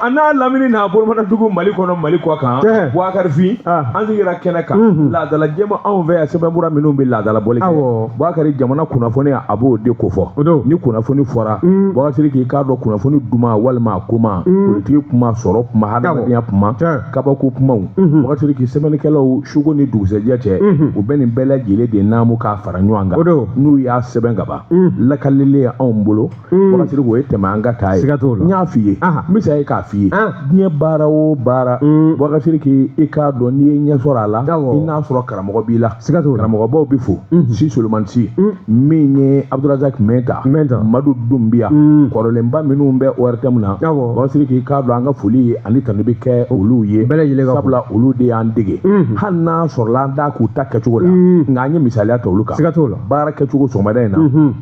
an n'a lamini n'a bolomana dugu mali kɔnɔ mali kɔ kan Tiɲɛ. buwakarifin Ah. an sigira kɛnɛ kan Mhm. laadala jɛma anw fɛ yan sɛbɛnbura minnu bɛ laadala bɔli kɛ Awɔ. buwakari jamana kunnafoni a b'o de kofɔ O don. ni kunnafoni fɔra Mm. buwakari siriki k'a dɔn kunnafoni duman walima a goman politiki kuma sɔrɔ kuma hadamadenya kuma Tiɲɛ. kabako kumaw Mhm. buwakari siriki sɛbɛnnikɛlaw suko ni dugusɛjɛ cɛ Mhm. u bɛ nin bɛɛ lajɛlen de naamu k'a fara ɲɔgɔn kan O don. n'u y'a sɛbɛn ka ban Mhm. lakalili ye anw bolo buwakari o ye tɛmɛ an ka taa ye n y'a f'i ye n bɛ se k'a f'i ye diɲɛ baara o baara buwakari siriki i k'a dɔn n'i ye ɲɛ sɔrɔ a la i n'a sɔrɔ karamɔgɔ b'i la karamɔgɔbaw bɛ fo si solomani si min ye abudurazaki mɛnta madu dunbiya kɔrɔlenba minnu bɛ ORTM na buwakari siriki k'a dɔn an ka foli ye ani tanu bɛ kɛ olu ye sabula olu de y'an dege hali n'a sɔrɔ an t'a k'u ta kɛcogo la nka an ye misaliya ta olu kan la baara kɛcogo sɔgɔmada in na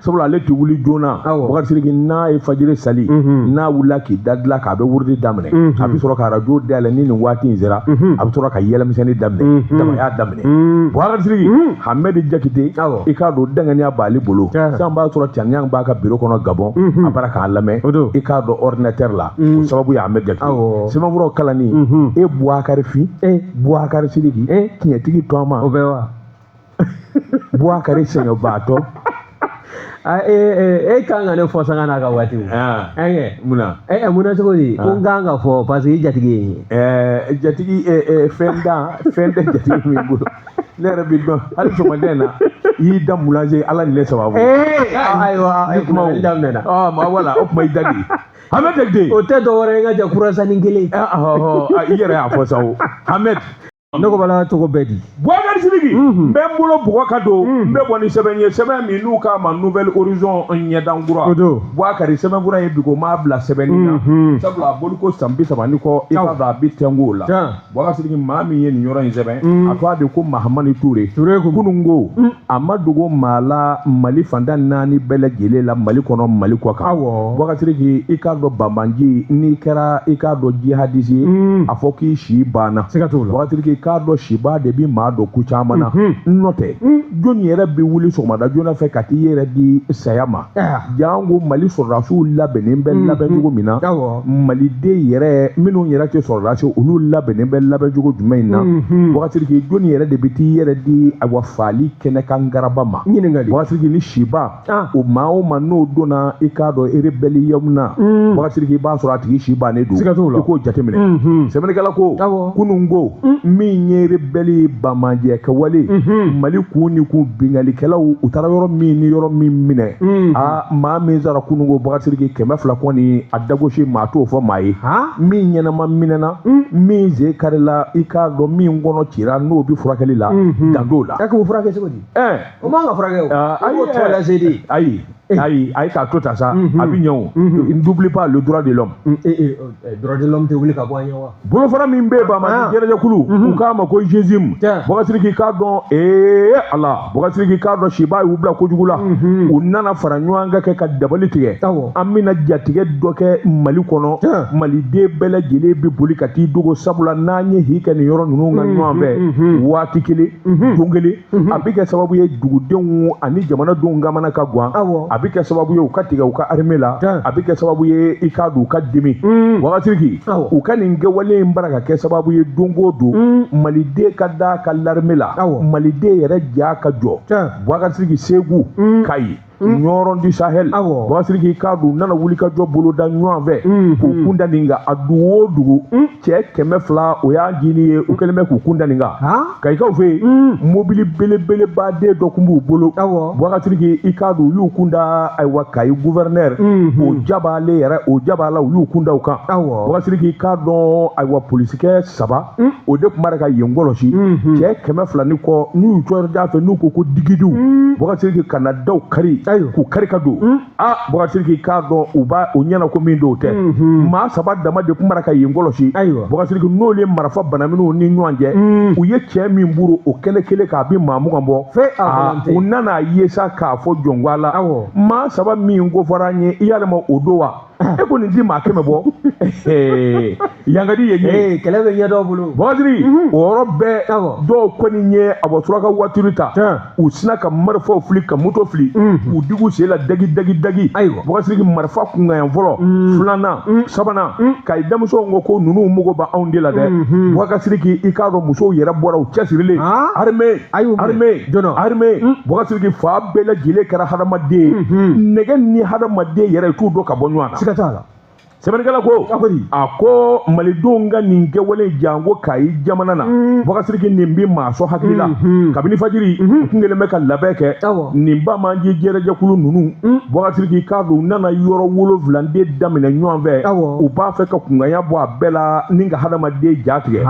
sabula ale tɛ wuli joona buwakari siriki n'a ye fajiri sali n'a wulila k'i da dilan k'a bɛ wurudi daminɛ a bɛ sɔrɔ ka arajo dayɛlɛn ni nin waati in sera a bɛ sɔrɔ ka yɛlɛmisɛnni daminɛ daya daminɛ buwakari siriki hamɛdi jakite i k'a dɔn daya b'ale bolo san b'a sɔrɔ cani b'a ka biro kɔnɔ gabon a bara k'an lamɛn i k'a dɔn ɔridinatɛri la sababu ye hamɛdi jakite sɛbɛnfura kalanni e buwakarifin e buwakari siriki tiɲɛtigi tɔma Bukari sɛgɛnbaatɔ e ka kan ka ne fo sanga n'a ka waati munna munna cogo di ko n ka kan k'a fo parce que i jatigi jatigi fɛntan fɛn tɛ jatigi min bolo ne yɛrɛ b'i dɛmɛ hali sɔgɔmada in na i y'i da bulanze ala ni ne sababu ayiwa a kuma daminɛna wala o kuma i da hamɛdi jakite o tɛ dɔwɛrɛ ye n ka jɛ kurasanni kelen i yɛrɛ y'a fɔ sa hamɛdi ne ko b'a la cogo bɛɛ di bubakari sidiki n bɛ n bolo bugɔ ka don n bɛ bɔ ni sɛbɛn ye sɛbɛn min n'u k'a ma nouvel horizon ɲɛdan kura O don. bubakari sɛbɛnfura ye bi ko m'a bila sɛbɛnni na Mhm. sabula a bɔli ko san bi saba ni kɔ i k'a dɔn a bi tɛnko o la Tiɲɛ. bubakari sidiki maa min ye nin yɔrɔ in sɛbɛn a tɔgɔ de ko mahamani ture Ture kun- kununko a ma dogo maa la mali fan tan ni naani bɛɛ lajɛlen la mali kɔnɔ mali kɔ kan awɔ buwakari siriki i k'a dɔn banbaanci n'i kɛra i k'a dɔn jihadisi ye Mm. a fɔ k'i si banna siga t'o la buwakari siriki k'a dɔn siban de bi maa don ko caman na Mhm. n'o tɛ jɔnni yɛrɛ bɛ wuli sɔgɔmada joona fɛ ka t'i yɛrɛ di saya ma janko mali sɔrɔdasiw labɛnnen bɛ labɛn cogo min na maliden yɛrɛ minnu yɛrɛ tɛ sɔrɔdasi olu labɛnnen bɛ labɛn cogo jumɛn in na buwakari siriki jɔnni yɛrɛ de bɛ t'i yɛrɛ di ayiwa faali kɛnɛ kan garaba ma ɲininkali buwakari siriki ni siban o maa o maa n'o donna i k'a dɔn rébellion na buwakari siriki i b'a sɔrɔ a tigi si bannen don i k'o jateminɛ sɛbɛnnikɛla ko kununko min ye rebelle banbaanci kɛwale mali kun ni kun binkalikɛlaw u taara yɔrɔ min ni yɔrɔ min minɛ aa maa min sara kununko Boubacar Sidiki kɛmɛ fila kɔni a dagosi maa t'o fɔ maa ye min ɲɛnama minɛna min sen karila i k'a dɔn min kɔnɔ cira n'o bɛ furakɛli la dan t'o la. Ɛ k'o furakɛ cogo di? Ɛɛ o man ka furakɛ o. Aa, ayi, Ayi. Ayi. Eh. ayi a ye k'a to ka sa mhm. a bɛ ɲɛ o mhm. n'oublie pas le droit de l'homme mm, eh, eh, oh, droit de l'homme tɛ wuli ka bɔ an ye wa bolofara min bɛ banbaanci ah. jɛrɛjɛkulu mhm. u k'a ma ko GSIM Boubacar Sidiki k'a dɔn ee ala Boubacar Sidiki k'a dɔn seba y'u bila kojugu la u nana fara ɲɔgɔn kan kɛ ka dabali tigɛ an bɛna jatigɛ dɔ kɛ mali kɔnɔ maliden bɛɛ lajɛlen bɛ boli ka t'i dogo sabula n'an ye hi kɛ nin yɔrɔ ninnu kan ɲɔgɔn fɛ waati kelen don kelen Mhm. a bɛ kɛ sababu ye dugudenw ani jamanadenw kamana ka gan a bɛ kɛ sababu ye u ka tigɛ u ka armée la a bɛ kɛ sababu ye i k'a dɔn u ka dimi mm. Boubacar Sidiki u ka nin kɛwale in bara ka kɛ sababu ye don o don mm. maliden ka da ka l'armée la maliden yɛrɛ ja ka jɔ Boubacar Sidiki segu mm. kayi ɲɔrɔn hmm. du sahel Boubacar Sidiki k'a dɔn nana wuli ka jɔ boloda ɲɔgɔn fɛ hmm, k'u hmm. kunda nin kan a dugu o dugu cɛ kɛmɛ fila o y'a jini ye u kɛlen bɛ k'u kunda nin kan kayikaw fɛ yen mobili belebeleba de dɔ tun b'u bolo Boubacar Sidiki i k'a dɔn u y'u kunda ayiwa kayi guvɛrɛnɛri o jab'ale yɛrɛ o jab'a la u y'u kunda u kan Boubacar Sidiki k'a dɔn ayiwa polisikɛ saba Hmm? o de tun bara ka yen kɔlɔsi hmm, hmm. cɛ kɛmɛ fila ni kɔ n'u y'u jɔ da fɛ n'u ko ko digidiw Boubacar Sidiki ka na daw kari k'u kari ka don a Boubacar Sidiki k'a dɔn u ɲɛ na ko min don o tɛ maa saba dama de tun bara ka yen kɔlɔsi Boubacar Sidiki n'olu ye marifa banamini ɲɔgɔn cɛ u ye cɛ min buru o kɛnɛ kelen kan a bi maa mugan bɔ u nana ye sa k'a fɔ jɔnwa la maa saba min ko fɔra an ye yala maa o don wa e ko nin ti maa kɛmɛ bɔ yankadi ye ye kɛlɛ bɛ ɲɛ dɔw bolo Boubacar Sidiki o yɔrɔ bɛɛ dɔw kɔni ye a bɔ suraka watiri ta u sina ka marifaw fili ka moto fili k'u digi sen la dagi dagi dagi ayiwa Boubacar Sidiki marifa kunkanyan fɔlɔ filanan sabanan kayi denmisɛnw ko ko ninnu mago bɛ anw de la dɛ Boubacar Sidiki i k'a dɔn musow yɛrɛ bɔra u cɛsirilen armée armée jɔnna armée Boubacar Sidiki fan bɛɛ lajɛlen kɛra hadamaden nɛgɛ ni hadamaden yɛrɛ i t'u dɔn ka bɔ ɲɔgɔn na siga t'a la sɛbɛnnikɛla ko a ko malidenw ka nin kɛwale janko kayi jamana na Boubacar Sidiki nin bɛ maa sɔn hakili la kabini fajiri u tun kɛlen bɛ ka labɛn kɛ nin banbaanci jɛrɛjɛkulu ninnu Boubacar Sidiki k'a dɔn u nana yɔrɔ wolonwula de daminɛ ɲɔgɔn fɛ u b'a fɛ ka kungaya bɔ a bɛɛ la ni ka hadamaden ja tigɛ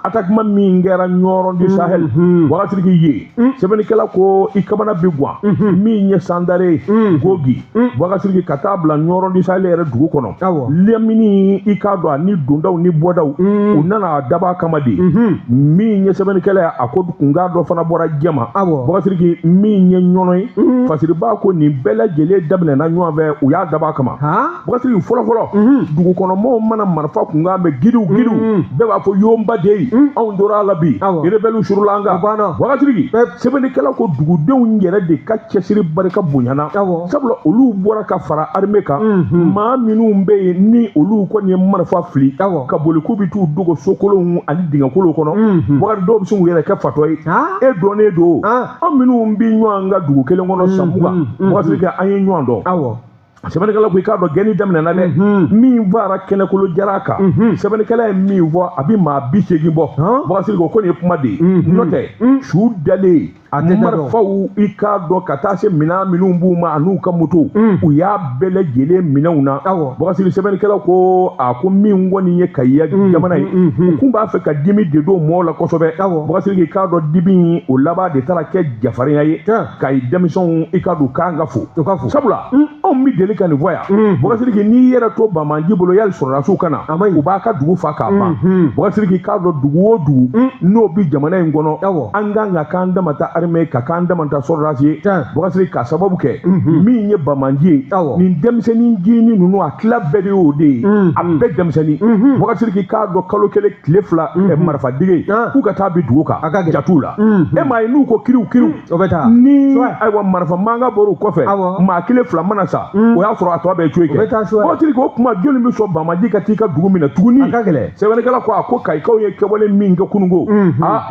attaquement min kɛra ɲɔrɔn du sahel mm-hmm. bakasiriki ye mm. sɛbɛnnikɛla ko i kamana bɛ gwan mm-hmm. min ye sandare mm. gogi mm. bakasiriki ka taa bila ɲɔrɔn du sahel yɛrɛ dugu kɔnɔ lamini i k'a dɔn a ni dondaw ni bɔdaw u nan'a dab'a kama de mm-hmm. min ye sɛbɛnnikɛla ye a ko kunkan dɔ fana bɔra jɛma bakasiriki min ye ɲɔnɔ ye fasiriba ko nin bɛɛ lajɛlen daminɛna ɲɔgɔn fɛ u y'a dab'a kama Bakasiriki fɔlɔfɔlɔ dugukɔnɔmɔgɔw mana marifa kunkan mɛn giriw giriw bɛɛ b'a fɔ yomba de ye anw tora a la bi rebelle surula an kan bakasiriki sɛbɛnnikɛla ko dugudenw yɛrɛ de ka cɛsiri barika bonyana sabula olu bɔra ka fara armée kan maa minnu bɛ yen ni olu kɔni ye marifa fili ka boli k'u bɛ taa u dogo sokolonw ani dingɛkolonw kɔnɔ bakasiriki dɔw bɛ se k'u yɛrɛ kɛ fatɔ ye e dɔnnen don an minnu bɛ ɲɔgɔn kan dugu kelen kɔnɔ san mugan bakasiriki an ye ɲɔgɔn dɔn sɛbɛnnikɛla ko i k'a dɔn gɛnni daminɛna dɛ mhm. min fara kɛnɛkolo jara kan mhm. sɛbɛnnikɛla ye min fɔ a bɛ maa bi seegin bɔ bakasiri ko ko nin ye kuma de ye mhm. n'o tɛ su dalen marifaw i k'a dɔn ka taa se minɛn minnu b'u ma an'u ka motow mm. u y'a bɛɛ lajɛlen minɛ u na bakasiri sɛbɛnnikɛla ko a ko min kɔni ye kayiya mm, jamana ye mm, u kun b'a fɛ ka dimi de don mɔɔw la kosɛbɛ bakasiriki k'a dɔn dimi in o laban de taara kɛ jafarinya ye kayi denmisɛnw i k'a dɔn k'an ka fo sabula anw bɛ deli ka nin fɔ yan bakasiriki n'i yɛrɛ to banbaanci bolo yali sɔrɔdasiw ka na u b'a ka dugu fa k'a ban bakasiriki k'a dɔn dugu o dugu n'o bɛ jamana in kɔnɔ an kan ka k'an dama ta armée ka k'an dama ta sɔrɔdasi ye bakasiriki ka sababu kɛ min ye banbaanci ye nin denmisɛnnin ncinin ninnu a tila bɛɛ de y'o de ye a bɛɛ denmisɛnnin bakasiriki k'a dɔn kalo kelen tile fila mhm. eh, marifa dege ah. k'u ka taa bin dugu kan jatuw la mhm. e m'a ye n'u ko kiriw kiriw o bɛ taa ni ayiwa marifa mankan bɔr'u kɔfɛ maa kelen fila mana sa mhm. o y'a sɔrɔ a tɔ bɛɛ coye kɛ bakasiriki ko o tuma jɔni bɛ sɔn banbaanci ka t'i ka dugu minɛ i na tuguni sɛbɛnnikɛla ko a ko kayikaw ye kɛwale min kɛ kunun ko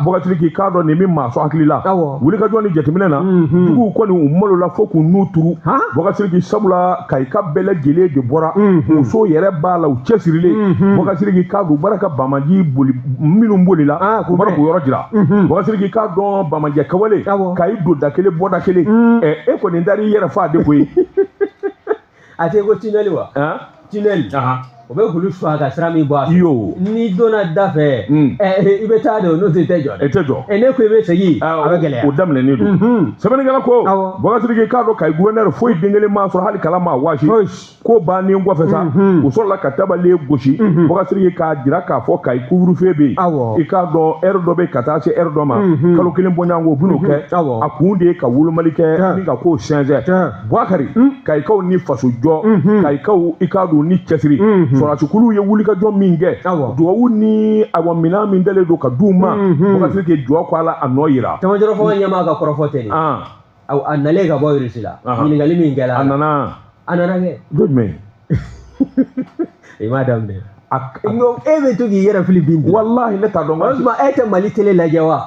bakasiriki k'a dɔn nin min maa sɔn hakili la wulikajɔ ni jateminɛ na juguw kɔni u malola fo k'u nun turu bakasiriki sabula kayi ka bɛɛ lajɛlen de bɔra musow yɛrɛ b'a la u cɛsirilen bakasiriki k'a dɔn u bɔra ka banbaanci boli minnu bolila ah, u bɔra k'u yɔrɔ jira bakasiriki k'a dɔn banbaanci kɛwale kayi don da kelen bɔ da kelen e kɔni taar'i yɛrɛ fa de koyi a tɛ ko tunnel wa tunnel o bɛ kulu suwa ka sira min bɔ a fɛ n'i donna da fɛ hmm. i bɛ taa de o n'o tɛ tɛ jɔ dɛ i tɛ jɔ ɛ ne ko i bɛ segin a bɛ gɛlɛya o daminɛnen don mhm. sɛbɛnnikɛla ko bakasiriki k'a dɔn kayi gouverneur foyi den kelen m'a sɔrɔ hali kala m'a waasi ko bannen kɔfɛ sa mhm. u sɔrɔla ka tabalen gosi mhm. bakasiriki k'a jira k'a fɔ kayi couvre-feu bɛ yen i k'a dɔn heure dɔ bɛ ka taa se heure dɔ ma kalo kelen bɔɲɔgɔnko u bɛn'o kɛ a kun de ye ka wolomali kɛ ni ka kow sɛnsɛn Bukari Kayikaw ni faso jɔ Kayikaw i ka don ni cɛsiri sɔrɔdasikulu ye wulikajɔ min kɛ dugawu ni awa minɛn min dalen don ka d'u ma k'i jɔ ko a la a nɔ jira tama ɲɛmaa ka kɔrɔfɔ tɛ a nalen ka bɔ irisi la ɲininkali min kɛra a nana a nana kɛ jumɛn i m'a daminɛ e bɛ to k'i yɛrɛ fili bin walahi ne t'a dɔn o tuma e tɛ mali tele lajɛ wa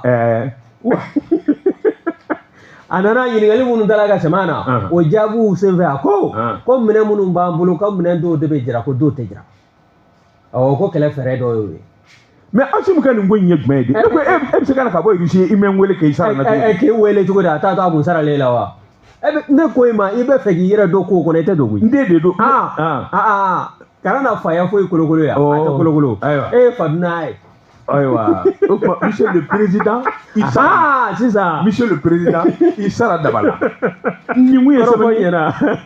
a nana ɲininkali minnu dala ka sɛmɛ na o jaabiw senfɛ a ko ko minɛn minnu b'an bolo ko minɛn dɔw de bɛ jira ko dɔw tɛ jira ɔ ko kɛlɛ fɛɛrɛ dɔ y'o ye mais asimu ka nin ko in ye jumɛn ye de e ko e bɛ se ka na ka bɔ irisi i ma n wele k'i sara n na cogo di. k'i wele cogo di a t'a to a kun saralen la wa e bɛ ne ko i ma i b'a fɛ k'i yɛrɛ don ko kɔnɔ i tɛ don koyi. n den de don. aa aa kana na faya foyi kolokolo yan a tɛ kolokolo e ye fa dunan ye. ayiwa o tuma monsieur le président i sara aa sisan monsieur le président i sara daba la nin kun ye Yɔrɔ sɛbɛn fɔ ye ɲɛna.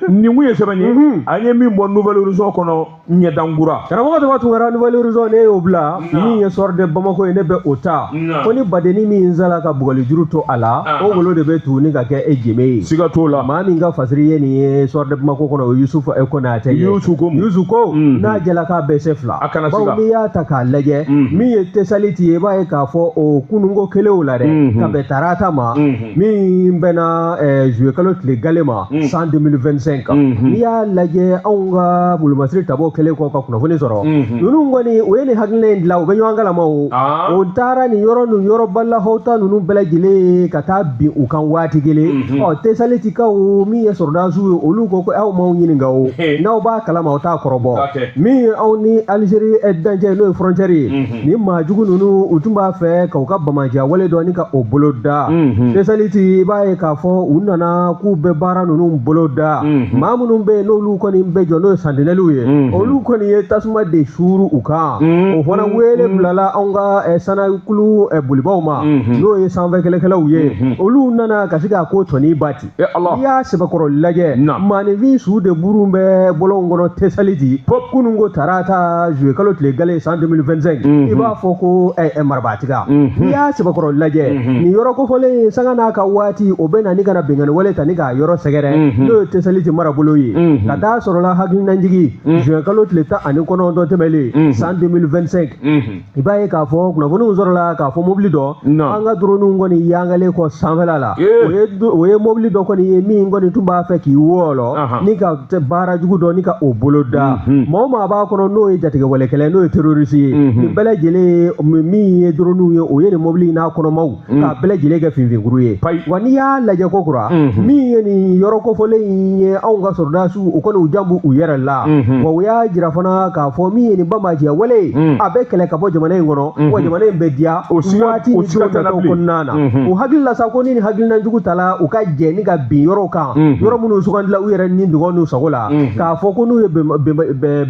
nin kun ye sɛbɛn ye Mhm. an ye min bɔ nouvel horizon kɔnɔ ɲɛdankura karamɔgɔ dama tun kɛra nouvel horizon ne y'o bila min ye soir de bamako ye ne bɛ o ta Na. ko ni badenni min sala ka bugɔli juru to a la Ah. o wolo de bɛ tugu ni ka kɛ e jenbe ye siga t'o la maa min ka fasiri ye nin ye soir de bamako kɔnɔ o ye yusufu e konate ye Yusu ko mun? yusu ko Mm. n'a jɛla k'a bɛɛ se fila a kana siga bawo n'i y'a ta k'a lajɛ Mhm. min ye tesaliti ye i b'a ye k'a fɔ o kunun ko kɛlenw la dɛ Mhm. ka bɛn tarata ma Mhm. min bɛna eh, juye kalo tile gale ma Mhm. san 2025 kan Mhm. n'i y'a lajɛ anw ka bolomasiri tabo kɛlen kɔ ka kunnafoni sɔrɔ Mhm. ninnu kɔni o ye nin hakilina in dilan u bɛ ɲɔgɔn kalama o Ah. o taara nin yɔrɔ ninnu yɔrɔ balahɔta ninnu bɛɛ lajɛlen ye ka taa bin u kan waati kelen Mhm. ɔ tesalitikaw min ye sɔrɔdasiw ye olu ko ko aw m'aw ɲininka o He. n'aw b'a kalama aw t'a kɔrɔbɔ K'a kɛ. min ye anw ni alizeri eh, dancɛ n'o ye frontière ye mhm. ni maajugu ninnu u tun b'a fɛ k'u ka bamaja wale dɔ ni ka o bolo da mhm. tesaliti i b'a ye k'a fɔ u nana k'u bɛ baara ninnu bolo da mhm. maa minnu bɛ yen n'olu kɔni bɛ jɔ n'o ye santinɛliw ye olu kɔni ye tasuma de suuru u kan o fana wele bilala anw ka eh, sanakulun eh, bolibaw ma n'o ye sanfɛ kɛlɛkɛlaw ye olu nana ka se k'a ko tɔni bati e ala i y'a sɛbɛkɔrɔ lajɛ maaninfin su de buru bɛ bɔlɔn kɔnɔ tesaliti kunun ko tarata zuye kalo tile gale san 2025 i b'a fɔ ko eh, eh, marabaatiga mhm. n'i y'a sɛbɛkɔrɔ lajɛ mhm. nin yɔrɔ kofɔlen sanga n'a ka waati o bɛ na ni ka na binkanni wale ta ni k'a yɔrɔ sɛgɛrɛ mhm. n'o ye tesaliti marabolo ye ka taa sɔrɔla hakilinajigi zuye kalo tile tan ani kɔnɔntɔn tɛmɛlen san 2025 i b'a ye k'a fɔ kunnafoniw sɔrɔla k'a fɔ mobili dɔ an ka droniw kɔni yangalen kɔ sanfɛla la o ye mobili dɔ kɔni ye min kɔni tun b'a fɛ k'i wɔɔlɔ ni ka baara jugu dɔ ni ka o bolo da maa o maa b'a kɔnɔ n'o ye jatigɛwalekɛla n'o ye terrorisi ye nin bɛɛ lajɛlen ye min ye droniw ye o ye nin mobili in n'a kɔnɔmaaw Mm. k'a bɛɛ lajɛlen kɛ finfinkuru ye wa n'i y'a lajɛ ko kura mm-hmm. min ye nin yɔrɔ kofɔlen in ye anw ka sɔrɔdasiw u kɔni u jan b'u yɛrɛ la mm-hmm. wa u y'a jira fana k'a fɔ min ye nin bamajɛ wale ye mm. a bɛ kɛlɛ ka bɔ jamana in kɔnɔ wa mm-hmm. jamana in bɛ diya waati ni don nataw kɔnɔna na u hakili la sa ko ni nin hakilina jugu ta la u ka jɛ ni ka bin yɔrɔw kan yɔrɔ minnu sugandila u yɛrɛ nidungɔ n'u sago la k'a fɔ ko n'u ye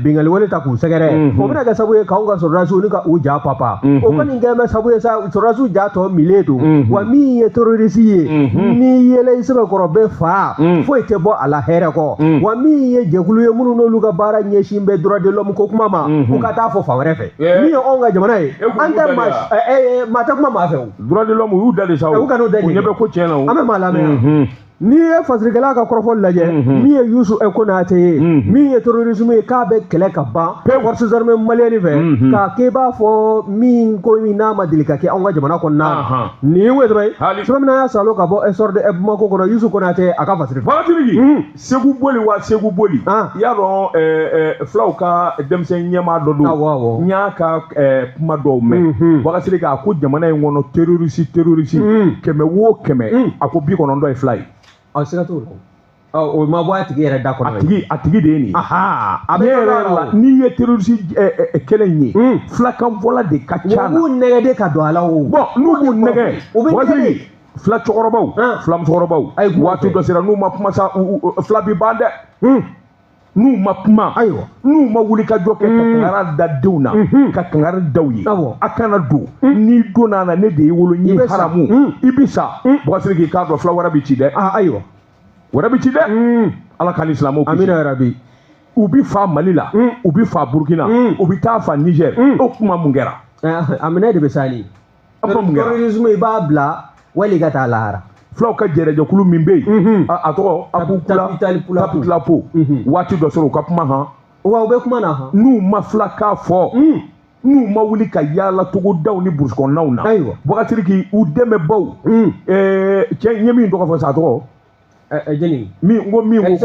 binkanni wale ta k'u sɛgɛrɛ o bɛna kɛ sabu ye k'anw ka sɔrɔdasiw ni ka u ja papa o kɔni kɛlen bɛ sabu ye sa sɔrɔdasiw ja tɔmilen don Unhun. wa min ye terorisi ye Unhun. n'i yelen i sɛbɛkɔrɔ bɛ fa Mm. foyi tɛ bɔ a la hɛrɛ kɔ Mm. wa min ye jɛkulu ye minnu n'olu ka baara ɲɛsin bɛ droit de l'homme ko kuma ma Unhun. u ka taa fɔ fan wɛrɛ fɛ Eh. min ye anw ka jamana ye E ko an k'u tɛ maa dalen ɛ, ɛ, maa tɛ kuma maa fɛ o droit de l'homme u y'u da de sa o Eh, u kan'u da de. u ɲɛ bɛ ko tiɲɛ na o an bɛ maa lamɛn Mhm. N'i ye fasirikɛla ka kɔrɔfɔli lajɛ min ye Yusu Konate ye min ye terrorisme ye k'a bɛ kɛlɛ ka ban forces armées maliennes fɛ k'a kɛ i b'a fɔ min ko min n'a ma deli ka kɛ anw ka jamana kɔnɔna na nin ye wetoro ye cogo min na an y'a salo ka bɔ Soir de Bamako kɔnɔ Yusu Konate a ka fasiri Bakasiriki Seku Boli wa Seku Boli i y'a dɔn fulaw ka denmisɛn ɲɛmaa dɔ don awɔ awɔ n y'a ka kuma dɔw mɛn Bakasiriki a ko jamana in kɔnɔ terorisi terorisi kɛmɛ wo kɛmɛ a ko bi kɔnɔntɔn ye fula ye siga t'o la o ma bɔ a tigi yɛrɛ da kɔnɔ a tigi a tigi de ye nin a bɛ yɛrɛ la n'i ye terorisi kelen ye fulakanfɔla de ka ca u b'u nɛgɛn de ka don a la o bɔn n'u b'u nɛgɛn o bɛ fula cɛkɔrɔbaw fula musokɔrɔbaw waati dɔ sera n'u ma kuma sa fula bi ban dɛ n'u ma kuma ayiwa n'u ma wuli ka jɔ kɛ ka mm. kangara da denw na mm-hmm. ka kangara da u ye a kana don mm. n'i donna na ne de y'i wolo n y'i haramu mm. i bi sa Bakasiriki k'a dɔn fula wɛrɛ bi ci dɛ ah, ayiwa wɛrɛ bi ci dɛ ala k'an ni silamɛw kisi amina yarabi u bi fa mali la u bi fa burukina u bi taa fa nizɛri o kuma mun kɛra eh, amina de bɛ sa ni terrorisme i b'a bila wali ka taa lahara fulaw ka jɛrɛjɛkulu min bɛ yen a tɔgɔ Tabital Pulaaku waati dɔ sera u ka kuma han wa u bɛ kuma na han n'u ma fulakan fɔ n'u ma wuli ka yaala togodaw ni burusukɔnɔnaw na ayiwa Bakasiriki u dɛmɛbaw cɛ n ye min tɔgɔ fɔ sa tɔgɔ jeni min n ko min ko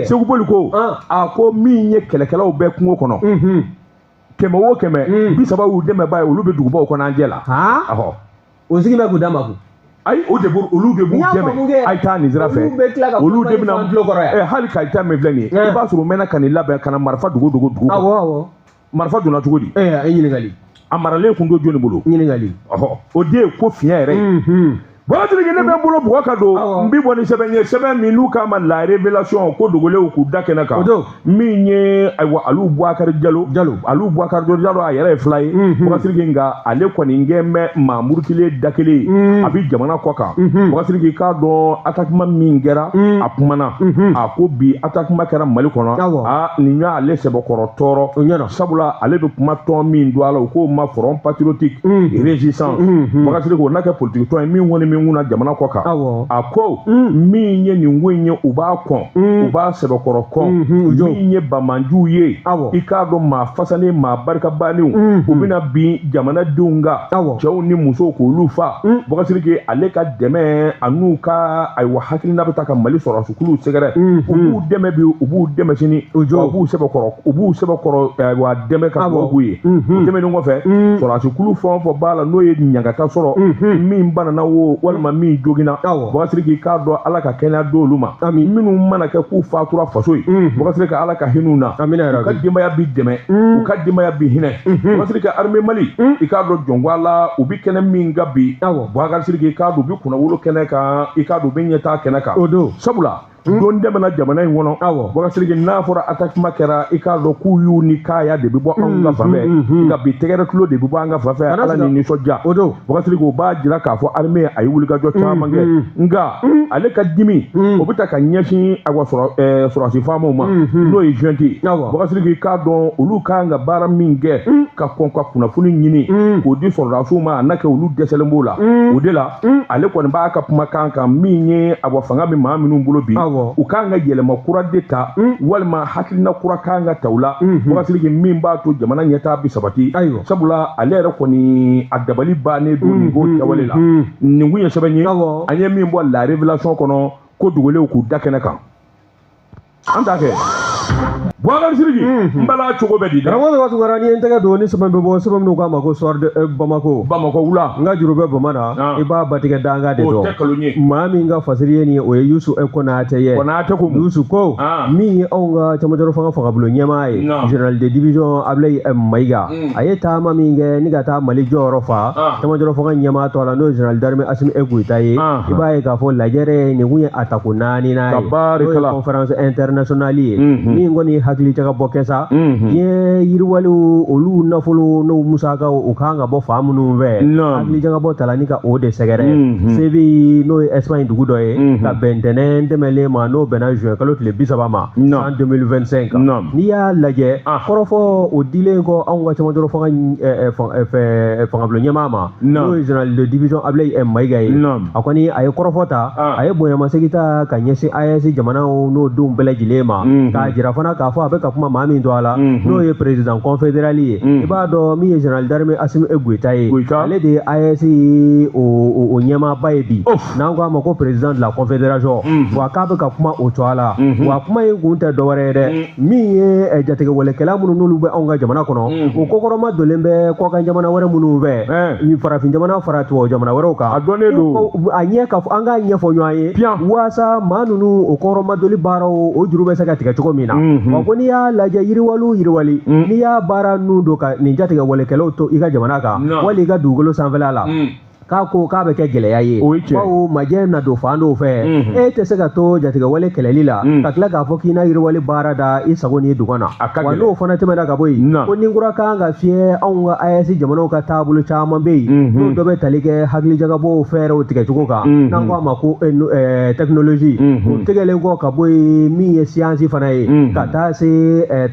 Seku Boli ko a ko min ye kɛlɛkɛlaw bɛ kungo kɔnɔ kɛmɛ o kɛmɛ hmm. bi saba y'u dɛmɛba ye olu bɛ dugubaw kɔnɔ an cɛ la ahɔ o sigi bɛ k'u d'a ma kun ayi o de b'u olu de b'u dɛmɛ a ye taa nin sira fɛ olu de bɛna dulo kɔrɔ yan ɛ hali Kati ta min filɛ nin ye eh. i b'a sɔrɔ u mɛnna ka nin labɛn ka na marifa dogo dogo dugu kɔnɔ awɔ awɔ marifa donna cogo di ɛ a ye ɲininkali a maralen tun don jɔni bolo ɲininkali ɔhɔ o de ye ko fiɲɛ yɛrɛ ye Boubacar Sidiki ne bɛ n bolo bugɔ ka don n bi bɔ ni sɛbɛn ye sɛbɛn min n'u k'a ma la révélation ko dogolenw k'u da kɛnɛ kan min ye ayiwa Aliu Bubakari Jalo Aliu Bubakari Jalo a yɛrɛ ye fila ye Boubacar Sidiki nka ale kɔni kɛlen bɛ maa murutilen da kelen ye a bɛ jamana kɔ kan Boubacar Sidiki k'a dɔn attaquement min kɛra a kumana a ko bi attaquement kɛra Mali kɔnɔ aa nin y'ale sɛbɛkɔrɔ tɔɔrɔ sabula ale bɛ kuma tɔn min don a la u k'o ma front patriotique résistance Boubacar Sidiki ko n'a kɛ politique tɔn ye min kɔni min kunna jamana kɔ kan a ko min ye nin ko in ye u b'a kɔn u b'a sɛbɛkɔrɔ kɔn min ye banbaanciw ye i k'a dɔn maa fasalen maa barika bannenw u bɛna bin jamanadenw kan cɛw ni musow k'olu fa Boubacar Sidiki ale ka dɛmɛ a n'u ka ayiwa hakilina bɛ ta ka Mali sɔrɔ kulu sɛgɛrɛ u b'u dɛmɛ bi u b'u dɛmɛ sini u b'u sɛbɛkɔrɔ u b'u sɛbɛkɔrɔ ayiwa dɛmɛ ka dugawu k'u ye dɛmɛni kɔfɛ sɔrɔdasi kulu fɛn o fɛn b'a la n'o ye ɲangata sɔrɔ min banana wo walima min joginna Boubacar Sidiki k'a dɔn Ala ka kɛnɛya di olu ma minnu mana kɛ k'u fatura faso ye Boubacar Sidiki Ala ka hin'u na u ka denbaya bi dɛmɛ u ka denbaya bi hinɛ Boubacar Sidiki armée Mali i k'a dɔn jɔn ko Ala u bɛ kɛnɛ min kan bi Boubacar Sidiki k'a dɔn kunnawolo kɛnɛ kan i k'a dɔn u bɛ ɲɛtaa kɛnɛ kan o don sabula hmm? don tɛmɛna jamana in kɔnɔ awɔ Boubacar Sidiki n'a fɔra attaquement kɛra i k'a dɔn k'u y'u ni kaaya de bɛ bɔ anw hmm, ka fanfɛ hmm, nka bi tɛgɛrɛtulon de bɛ bɔ an ka fanfɛla ni nisɔndiya o don Boubacar Sidiki o b'a jira k'a fɔ armée a ye wulikajɔ caman kɛ nka ale ka dimi o bɛ ta ka ɲɛsin ayiwa sɔrɔdasi eh, faamaw ma n'o ye junte ye Boubacar Sidiki k'a dɔn olu ka kan ka baara min kɛ ka kɔn ka kunnafoni ɲini k'o di sɔrɔdasiw ma a na kɛ olu dɛsɛlen b'o la o de la ale kɔni b'a ka kumakan kan min ye a fanga bɛ maa minnu bolo bi u kan ka yɛlɛma kura de ta walima hakilina kura kan ka ta u la Boubacar Sidiki min b'a to jamana ɲɛtaa bi sabati sabula ale yɛrɛ kɔni a dabali bannen don nin ko kɛwale la nin kun ye sɛbɛn ye an ye min bɔ la révélation kɔnɔ ko dogolenw k'u da kɛnɛ kan an ta kɛ Boubacar Sidiki n bala cogo bɛ di dɛ karamɔgɔ bɛ waati wɛrɛ n'i ye n tɛgɛ don ni sɛbɛn bɛ bɔ sɛbɛn min n'u k'a ma ko soir de euh, Bamako Bamako wula n ka juru bɛ Bamana Ah. i b'a batigɛ danga de o tɛ dɔn kaloni ye maa min ka fasiri ye nin ye o ye yusu eh, konatɛ ye Konatɛ ko mun? yusu ko Ah. min ye anw ka cɛmancɛrɔ fanga fangabolo ɲɛmaa ye Nka. général de division ablayi eh, mayiga a ye taama min kɛ ni ka taa mali jɔyɔrɔ fa cɛmancɛrɔ fanga ɲɛmaa tɔɔ la n'o ye général d'armée Asimi Goyita ye i b'a ye k'a fɔ lajɛrɛ nin kun ye a tako naaninan ye n'o ye conférence internationale ye min kɔni ye hakili jagabɔ kɛ sa diɲɛ yiriwaliw olu nafolo n'o musakaw u kan ka bɔ fan minnu fɛ hakili jagabɔ tala ni ka o de sɛgɛrɛ Séville n'o ye espagne dugu dɔ ye ka bɛn ntɛnɛn tɛmɛlen ma n'o bɛnna juin kalo tile bisaba ma 2025 non n'i y'a lajɛ ah. kɔrɔfɔ o dilen kɔ anw ka cɛmancɛrɔ fanga eh, eh, eh, fangabolo ɲɛmaa ma n'o ye général de division Ablaye Mayiga ye a kɔni a ye kɔrɔfɔ ta ah. a ye bonyamasegin ta ka ɲɛsin AES jamanaw n'o denw bɛɛ lajɛlen ma mm-hmm. k'a jira fana k'a fɔ a bɛ ka kuma maa min tɔgɔ la mm-hmm. n'o ye président confédéral ye mm-hmm. i b'a dɔn min ye général d'armée Assimi Goïta ye ale de ye AES o ɲɛmaaba ye bi n'an ko a ma ko président de la confédération mhm. wa k'a bɛ ka kuma o tɔgɔ la mhm. wa kuma in kun tɛ dɔwɛrɛ ye dɛ mhm. min ye eh, jatigɛwalekɛla minnu n'olu bɛ anw ka jamana kɔnɔ o kɔkɔrɔma donnen bɛ kɔkan jamana wɛrɛ minnu fɛ eh. farafin jamana fara tubabu jamana wɛrɛw kan a dɔnnen don a ɲɛ ka an k'a ɲɛfɔ ɲɔgɔn ye waasa maa ninnu o kɔkɔrɔmadoli baaraw o juru bɛ se ka tigɛ cogo min na wa ko n'i y'a lajɛ yiriwaliw yiriwali n'i y'a baara ninnu don ka nin jatigɛwalekɛlaw to i ka jamana kan wali i ka dugukolo sanfɛla la k'a ko k'a bɛ kɛ gɛlɛya ye o ye tiɲɛ bawo majɛ na don fan dɔw fɛ e tɛ se ka to jatigɛwale kɛlɛli la ka tila k'a fɔ k'i na yiriwali baara da i sago n'i dungo na wa n'o fana tɛmɛna ka bɔ yen ko ni kura kan ka fiyɛ anw ka AES jamanaw ka taabolo caman bɛ yen n'o dɔ bɛ tali kɛ hakilijagabɔw fɛɛrɛw tigɛcogo kan n'an ko a ma ko technologie o tigɛlen kɔ ka bɔ yen min ye siyansi fana ye ka taa se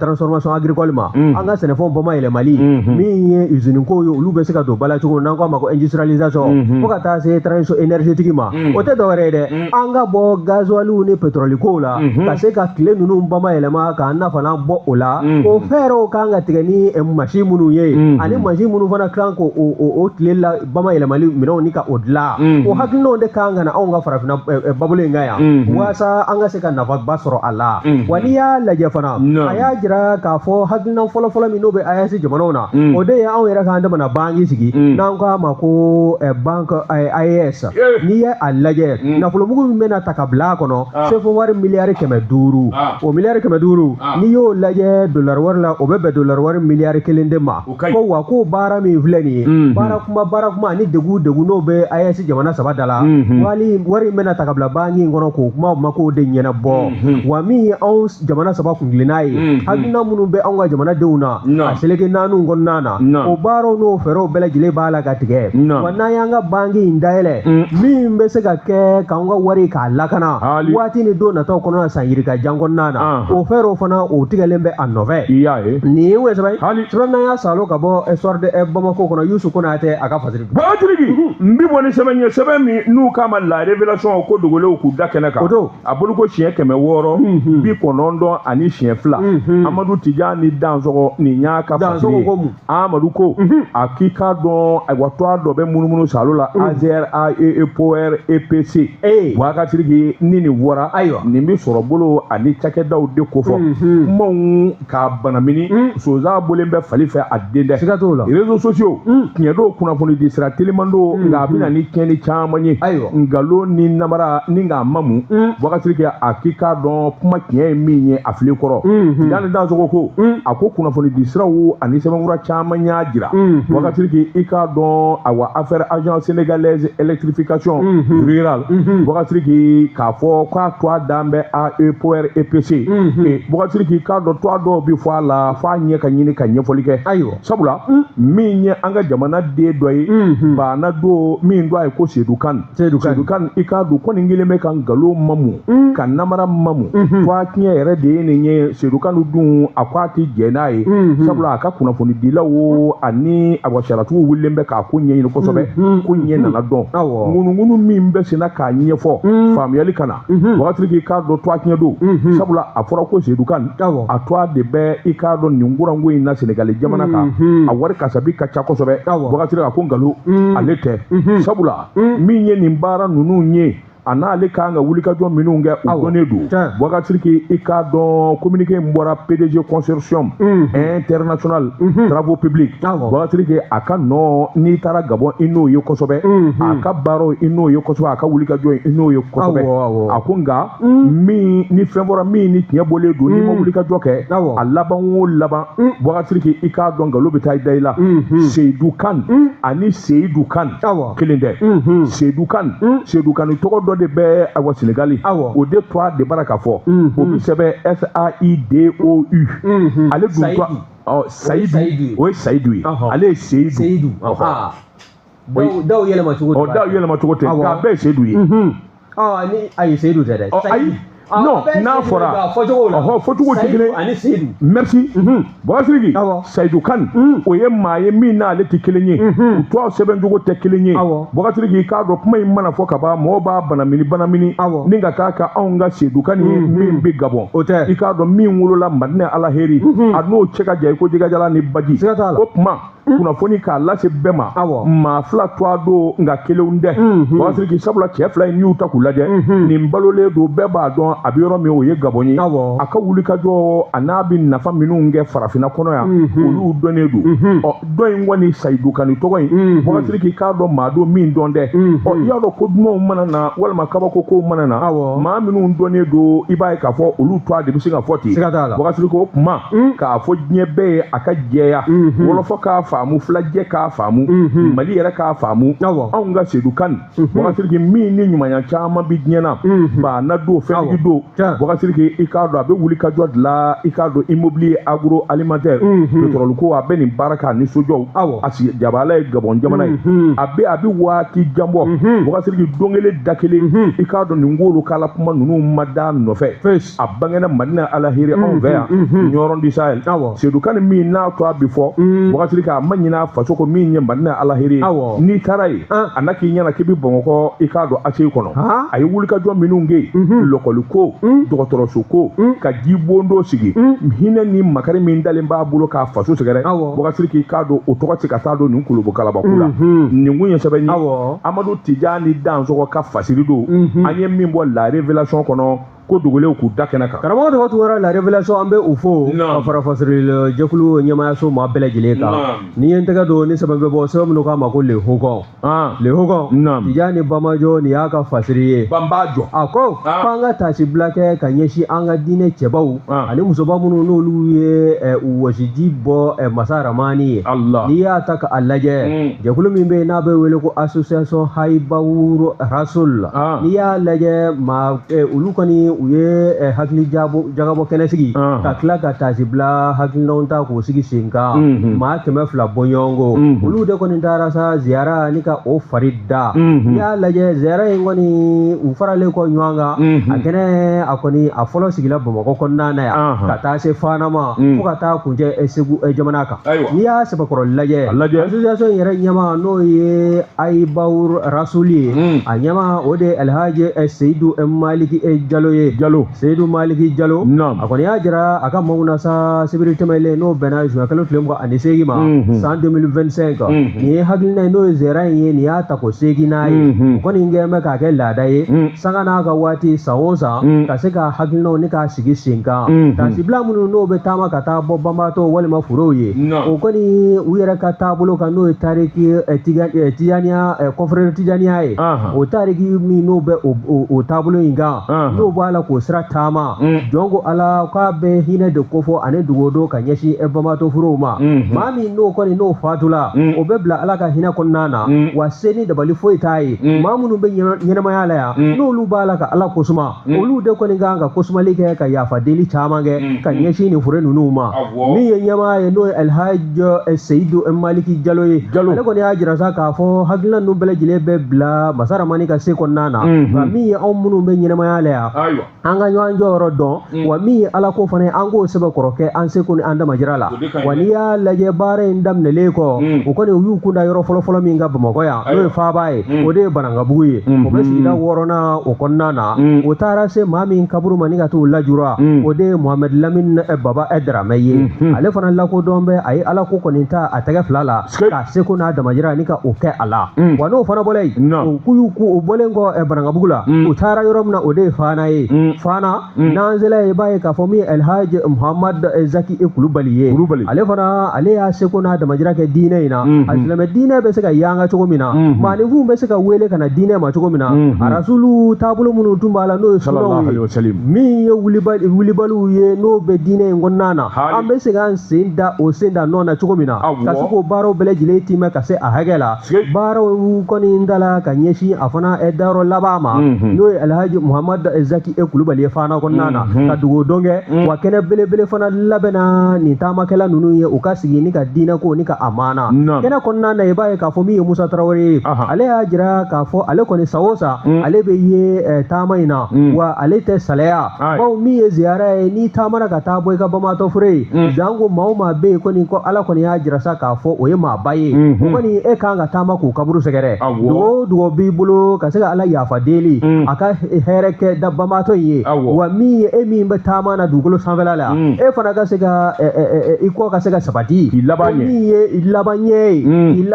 transformation agricole ma an ka sɛnɛfɛnw bamayɛlɛmali min ye usine kow ye olu bɛ se ka don ba la cogo min na ko a ma ko industrialisation mm -hmm. fo ka taa se transition énergétique ma mm -hmm. o tɛ dɔwɛrɛ ye dɛ mm -hmm. an ka bɔ gasoiliw ni pétrole kow la mm -hmm. ka se ka tile ninnu bamayɛlɛma k'an na fana bɔ o la mm -hmm. o fɛɛrɛw kan ka tigɛ ni eh, masin minnu ye mm -hmm. ani masin minnu fana kan ko o, o, o tile la bamayɛlɛmali minɛnw ni ka o dilan mm -hmm. o hakilinaw de kan ka na anw ka farafina eh, eh, babolo in kan yan mm -hmm. waasa an ka se ka nafaba sɔrɔ a la mm -hmm. wa n'i y'a lajɛ fana no. a y'a jira k'a fɔ hakilina fɔlɔfɔlɔ min n'o bɛ AES jamanaw na mm. o de ye anw yɛrɛ k'an damana banki sigi mm. n'an k'a ma ko eh, banque AES eh, eh. n'i ye a lajɛ mm. nafolomugu min bɛna ta ka bila a kɔnɔ ah. sefa wari miliyari kɛmɛ duuru ah. o miliyari kɛmɛ duuru ah. n'i y'o lajɛ dolari wari la o bɛ bɛn dolari wari miliyari kelen de ma ko wa ko baara min filɛ nin ye mm-hmm. baara kunba baara kunba ni dɛgun dɛgun n'o bɛ AES jamana saba da la mm-hmm. wali wari min bɛna ta ka bila banki in kɔnɔ k'o kuma ma k'o de ɲɛnabɔ mm-hmm. wa min ye anw jamana saba kuntilenna ye hakilina minnu bɛ anw ka jamanadenw na a seleke naaniw kɔnɔna na o baaraw n'o fɛɛrɛw bɛɛ lajɛlen b'a la ka tigɛ wa n'an y'an ka banki in dayɛlɛ mm. min bɛ se ka kɛ k'an ka wari k'a lakana waati ni don nataw kɔnɔna san yirika jan kɔnɔna na o fɛɛrɛw fana o tigɛlen bɛ a nɔfɛ nin ye wɛrɛ sɛbɛn sɔrɔ n'an y'a salo ka bɔ Soir de Bamako kɔnɔ Yusu Konate a ka fasiri batiriki n bɛ bɔ ni sɛbɛn ye sɛbɛn min n'u k'a ma la révélation ko dogolenw k'u da kɛnɛ kan o don a boloko siɲɛ kɛmɛ wɔɔrɔ mhm. bi kɔnɔntɔn ani siɲɛ fila mhm. amadu tijani dansɔgɔ nin y'a ka fasiri ye amadu ko mhm. a k'i k'a dɔn ayiwa tɔgɔ dɔ bɛ munumunu salo la aser aee power epc bɔkari siriki ni nin fɔra ayiwa nin bɛ sɔrɔ bolo ani cakɛdaw de kofɔ kumaw k'a banamini mm. sonsan bɔlen bɛ fali fɛ a den tɛ siga t'o la réseaux sociaux mm. tiɲɛ don kunnafoni di sira teliman don mm. nka a bɛna ni tiɲɛni caman ye ayiwa nkalon ni namara ni k'a mamu bɔkari siriki a k'i k'a dɔn kuma tiɲɛ ye min ye a filɛ kɔrɔ mm-hmm. tijani dansɔgɔ ko a ko kunnafoni di siraw ani sɛbɛnfura caman y'a jira mm-hmm. bɔkari siriki i k'a dɔn awa affaire agence sénégalaise électrification mm-hmm. rurale bɔkari siriki k'a fɔ k'a tɔgɔ dan bɛ AEE Power EPC Bɔkari Siriki i k'a dɔn tɔgɔ dɔw bɛ fɔ a la f'a ɲɛ ka ɲini ka ɲɛfɔli kɛ, ayiwa, sabula min ye an ka jamana den dɔ ye, unhun, baana don min tɔgɔ ye ko Sedu Kan, Sedu Kan, Sedu Kan i k'a dɔn ko nin kelen bɛ ka nkalon mamu, ka namara mamu, unhun, tɔgɔtiɲɛ yɛrɛ de ye nin ye Sedu Kan dun a ko a tɛ jɛn n'a ye, unhun, sabula a ka kunnafonidilaw ani a ka sariyatigiw wulilen bɛ k'a ko ɲɛɲini kosɛbɛ, unhun, ko ɲɛ nana dɔn, awɔ, ŋunuŋunu min bɛ senna k'a ɲɛfɔ faamuyali ka na bɔkari siriki i k'a dɔn tɔgɔtiɲɛ don sabula a fɔra ko seyidu kan a tɔgɔ de bɛ i k'a dɔn nin kuranko in na senegali jamana kan a wari kasabi ka ca kosɛbɛ bɔkari siriki a ko nkalon ale tɛ sabula min ye nin baara ninnu ye a n'ale ka kan ka wulikajɔ minnu kɛ o dɔnnen don bɔkari siriki i k'a dɔn communiqué in bɔra PDG consortium international travaux publics Bɔkari Siriki a ka nɔ n'i taara gabɔn i n'o ye kosɛbɛ a ka baaraw i n'o ye kosɛbɛ a ka wulikajɔ i n'o ye kosɛbɛ a ko nka min ni fɛn fɔra min ni tiɲɛ bɔlen don n'i ma wulikajɔ kɛ a laban o laban bɔkari siriki i k'a dɔn nkalon bɛ taa i da i la seyidu kan ani seyidu kan kelen tɛ seyidu kan seyidu kan ni tɔgɔ dɔ de bɛ awa sɛnɛgali o de tɔgɔ de bara ka fɔ o bɛ sɛbɛn s a i d o u ale dun ɔ sayidu o ye sayidu ye ale ye seyidu seyidu daw daw yɛlɛma cogo tɛ daw yɛlɛma cogo tɛ nka bɛɛ ye seyidu ye ɔ ni a ye seyidu tɛ dɛ ayi non n'a fɔra ɔhɔ fɔcogo tɛ kelen ani seyidu merci bɔkari siriki sayidu kan o ye maa ye min n'ale tɛ kelen ye u tɔgɔ sɛbɛncogo tɛ kelen ye Bɔkari Siriki i k'a dɔn kuma in mana fɔ ka ban mɔgɔw b'a banamini banamini awɔ ni ka taa ka anw ka sedu kan ye min bɛ gabɔn o tɛ i k'a dɔn min wolola madina alaheri a n'o cɛ ka jan i ko jɛgɛjalan ni baji siga t'a la o tuma kunnafoni k'a lase bɛɛ ma awɔ maa fila tɔgɔ don nka kelenw tɛ Bɔkari Siriki sabula cɛ fila in n'i y'u ta k'u lajɛ nin balolen don bɛɛ b'a dɔn a bɛ yɔrɔ min o ye gabɔn ye awɔ a ka wulikajɔ a n'a bɛ nafa minnu kɛ farafinna kɔnɔ yan olu dɔnnen don ɔ dɔ in kɔni seyidu kani tɔgɔ in mm-hmm. bɔgasiriki i k'a dɔn maa don min dɔn dɛ mm-hmm. ɔ i y'a dɔn ko dumanw mana na walima kabako kow mana na maa minnu dɔnnen don i b'a ye k'a fɔ olu tɔgɔ de bɛ se ka fɔ ten bɔgasiriki o kuma mm. k'a fɔ diɲɛ bɛɛ ye a ka jɛya mm-hmm. wɔlɔfɔ k'a faamu filajɛ k'a faamu mali yɛrɛ k'a faamu anw ka seyidu kani Bɔgasiriki min ni ɲumanya caman bɛ diɲɛ na baana don fɛntigi don Bɔgasiriki i k'a dɔn a bɛ wulikajɔ dilan i k'a dɔn immobilier agroalimentaire pétrole ko a bɛ nin baara kɛ ani sojɔw awɔ a sigi jabaala ye Gabɔn jamana ye a bɛ a bɛ waati jan bɔ Bɔgasiriki don kelen da kelen i k'a dɔn nin kolokala kuma ninnu ma d'a nɔfɛ. a bangena madina alahiri anw fɛ yan ɲɔrɔn du sahel seyidu kani min n'a tɔgɔ bi fɔ bɔgasiriki a ma ɲin'a faso kɔ min ye madina alahiri n'i taara yen a na k'i ɲɛ na k'i bi bamakɔ i k'a dɔn ACI kɔnɔ a ye wulikajɔ minnu kɛ yen lɔkɔli ko dɔgɔtɔrɔso ko ka jibondo sigi hinɛ ni makari min dalen b'a bolo k'a faso sɛgɛrɛ bɔgasiriki i k'a dɔn o tɔgɔ tɛ ka taa don nin kulubukalaba ko la nin kun ye sɛbɛn ye amadu tijani dansɔgɔ ka fasiri don an ye min bɔ la révélation kɔnɔ ko dogolenw k'u da kɛnɛ kan karamɔgɔ tɔgɔ tugura la révélation an bɛ u fo ka fara fasirili jɛkulu ɲɛmaayaso maa bɛɛ lajɛlen kan ni ye n tɛgɛ don ni sɛbɛn bɛ bɔ sɛbɛn min u k'a ma ko le hogon le hogon tijani bamajo nin y'a ka fasiri ye bamajo a ko k'an ka taasibila kɛ ka ɲɛsin an ka diinɛ cɛbaw ani musobaw minnu n'olu ye u wɔsiji bɔ masa ramani ye n'i y'a ta k'a lajɛ jɛkulu min bɛ yen n'a bɛ wele ko association hayibawu rasul n'i y'a lajɛ maa olu kɔni u ye hakili jagabɔ kɛnɛ sigi ka tila ka taasibila hakilinaw ta k'o sigi sen kan maa kɛmɛ fila bɔɲɔgɔnko olu de kɔni taara sa ziyara ni ka o fari da n'i y'a lajɛ ziyara in kɔni u faralen kɔ ɲɔgɔn kan a kɛnɛ a kɔni a fɔlɔ sigila bamakɔ kɔnɔna na yan ka taa se fana ma fo ka taa kuncɛ segu jamana kan ayiwa n'i y'a sɛbɛkɔrɔ lajɛ a lajɛ association yɛrɛ ɲɛmaa n'o ye ayibawur rasuli ye hmm. a ɲɛmaa o de ye alhaji eh, seyidu eh, maliki eh, jalo ye jalo seyidu maliki jalo a kɔni y'a jira a ka maaw na sa sibiri tɛmɛlen n'o bɛnna zuwɛn kalo tile mugan ani seegin ma hmm, hmm. san 2025 nin ye hakilina ye n'o ye ziyara in ye nin y'a tako seeginnan ye o kɔni kɛn bɛ k'a kɛ laada ye sanga n'a ka waati san o san ka se ka hakilinaw ni ka sigi sen kan taasibila minnu n'o bɛ taama ka taa bɔ banbaatɔ walima furew ye o kɔni u yɛrɛ ka taabolo kan n'o ye tariki tijaniya confrérie tijaniya ye o tariki min n'o bɛ o taabolo in kan n'o b'a la k'o sira taama jɔn ko ala k'a bɛ hinɛ de ko fɔ ani dugawudon ka ɲɛsin banbaatɔ furew ma maa min n'o kɔni n'o fatula o bɛ bila ala ka hinɛ kɔnɔna na wa se ni dabali foyi t'a ye maa minnu bɛ ɲɛnamaya la yan n'olu b'a la ka ala kosuma Mm. olu de kɔni kan ka kosumali kɛ ka yafa deli caman kɛ mm. ka mm. ɲɛsin nin fure ninnu ma min ye ɲɛmaa ye n'o ye alhaj eh, seyidu eh, maliki jalo ye ale kɔni y'a jira sa k'a fɔ hakilina ninnu bɛɛ lajɛlen bɛ bila masa ramani ka se kɔnɔna na mm-hmm. nka min ye anw minnu bɛ ɲɛnamaya la yan an ka ɲɔgɔn jɔyɔrɔ dɔn wa min ye ala ko fana ye an k'o sɛbɛkɔrɔ kɛ an seko ni an damajira la wa n'i y'a lajɛ baara in daminɛlen kɔ o kɔni u y'u kun da yɔrɔ fɔlɔfɔlɔ min kan bamakɔ yan n'o ye faaba ye o de ye banankabugu ye o bɛ sigida wɔɔrɔnan o kɔnɔna na o taara se maa min kaburu ma ni ka t'o lajura o de ye muhammed lamini baba daramɛ ye ale fana lakodɔn bɛ a ye ala ko kɔni ta a tɛgɛ fila la k'a seko n'a damajira ani ka o kɛ a la wa n'o fana bɔla yen k'u y'u ko o bɔlen kɔ banankabugu la u taara yɔrɔ min na o de ye fana ye fana Mm. n'an sela yen i b'a ye k'a fɔ min ye alhaji muhamad eh, zaki e kulubali ye ale fana ale y'a seko n'a damajira kɛ diinɛ in na mm-hmm. a silamɛ diinɛ bɛ se ka yanga cogo min na mm-hmm. maanifinw bɛ se ka wele ka na diinɛ ma cogo min na mm-hmm. arasulu taabolo minnu tun b'a la n'o ye sunaw ye min ye wulibaliw ye n'o bɛ diinɛ in kɔnɔna na an bɛ se k'an sen da o sen da nɔ na cogo min na ka se k'o baaraw bɛɛ lajɛlen timɛ ka se a hakɛ la baaraw kɔni dala ka ɲɛsin a fana dayɔrɔ laban ma n'o ye alhaji muhamadu zaki e kulubali ye fana kɔnɔna na ka dugawu don kɛ wa kɛnɛ belebele fana labɛnna nin taamakɛla ninnu ye u ka sigi ni ka diinɛ ko ni ka a maana kɛnɛ kɔnɔna na i b'a ye k'a fɔ min ye musa tarawele ye ale y'a jira k'a fɔ ale kɔni sa o sa ale bɛ ye taama in na wa ale tɛ salaya bawo min ye ziyara ye n'i taamana ka taa bɔ i ka banbaatɔ fure ye mm. janko maa o maa bɛ yen kɔni ko ala kɔni y'a jira sa k'a fɔ o ye maaba ye mm-hmm. o kɔni e kan ka taama k'u kaburu sɛgɛrɛ dugawu o dugawu b'i bolo ka se ka ala yafa deli mm. a ka hɛrɛ kɛ da banbaatɔ in ye wa min ye e min bɛ taama na dugukolo sanfɛla la mm. e fana ka se ka i kɔ ka se ka sabati min ye laban ɲɛ ye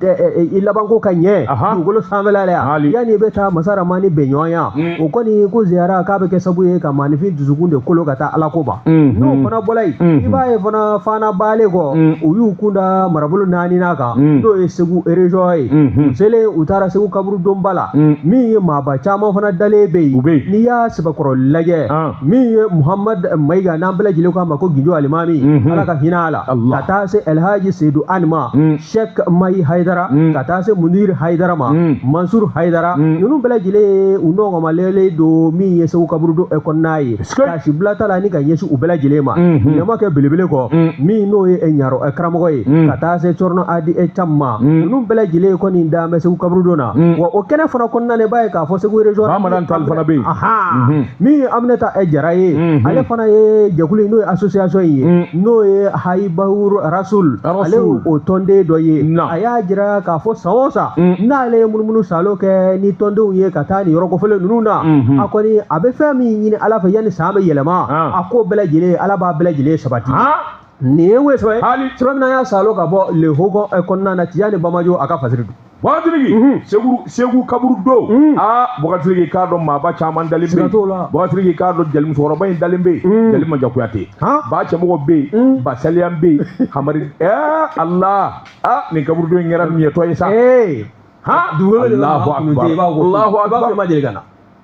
i labanko ka ɲɛ dugukolo sanfɛla la yan yanni i bɛ taa masa ramani bɛnɲɔgɔnya mm. o kɔni ko ziyara k'a bɛ kɛ sabu ye ka maanifin dusukun de kolo ka taa ala ko ma mm-hmm. n'o fana bɔla yen mm-hmm. i b'a ye fana fana banlen kɔ mm. u y'u kun da marabolo naaninan kan mm. n'o ye segu erezɔn ye mm-hmm. u selen u taara segu kaburudonba la min ye maaba caman fana dalen bɛ yen n'i y'a sɛbɛkɔrɔ lajɛ ah. min ye muhamad mayiga n'an bɛɛ lajɛlen k'a ma ko gindo alimami ala ka hinɛ a la ka taa se alhaji seyidu ani ma Sɛk Mayi Hayidara ka taa se Munir Hayidara ma Mansur Hayidara ninnu bɛɛ lajɛlen ye u nɔgɔnmalɛlen don min ye Segu kaburudon kɔnɔna ye ka si bulata la ni ka ɲɛsin u bɛɛ lajɛlen ma ɲɛmaa kɛ belebele kɔ min n'o ye Ɲaro karamɔgɔ ye ka taa se Cɔrɔnɔ Adi Cam ma ninnu bɛɛ lajɛlen kɔni dalen bɛ Segu kaburudon na wa o kɛnɛ fana kɔnɔna na i b'a ye k'a fɔ Segu région Madani Tali fana bɛ yen. min ye aminata eh, jara ye mhm. ale fana ye jɛkulu n'o ye association in ye mm. n'o ye haibawuru rasul ale o tɔnden dɔ ye a y'a jira k'a fɔ san o san mm. n'ale ye munumunu salo kɛ ni tɔndenw ye ka taa ni yɔrɔ kofɔlen ninnu na mhm. a kɔni a bɛ fɛn min ɲini ala fɛ yanni san bɛ yɛlɛma ah. a ko bɛɛ lajɛlen ala b'a bɛɛ lajɛlen sabati ah. nin ye wesɔ ye hali cogo min na y'a salo ka bɔ le hokɔn eh, kɔnɔna na tiɲɛ ni bamajo a ka fasiri don bakari siriki mhm. segu segu kaburudo mhm. aa bakari siriki i k'a dɔn maaba caman dalen bɛ yen bakari siriki i k'a dɔn jali musokɔrɔba in dalen bɛ yen mhm. jali maja kuyatɛ ba cɛmɔgɔ bɛ yen ba saliyan bɛ yen hamari ɛɛ ala aa nin kaburudo in kɛra miɲɛtɔ ye sa han Allahu akbar Allahu akbar ma deli ka na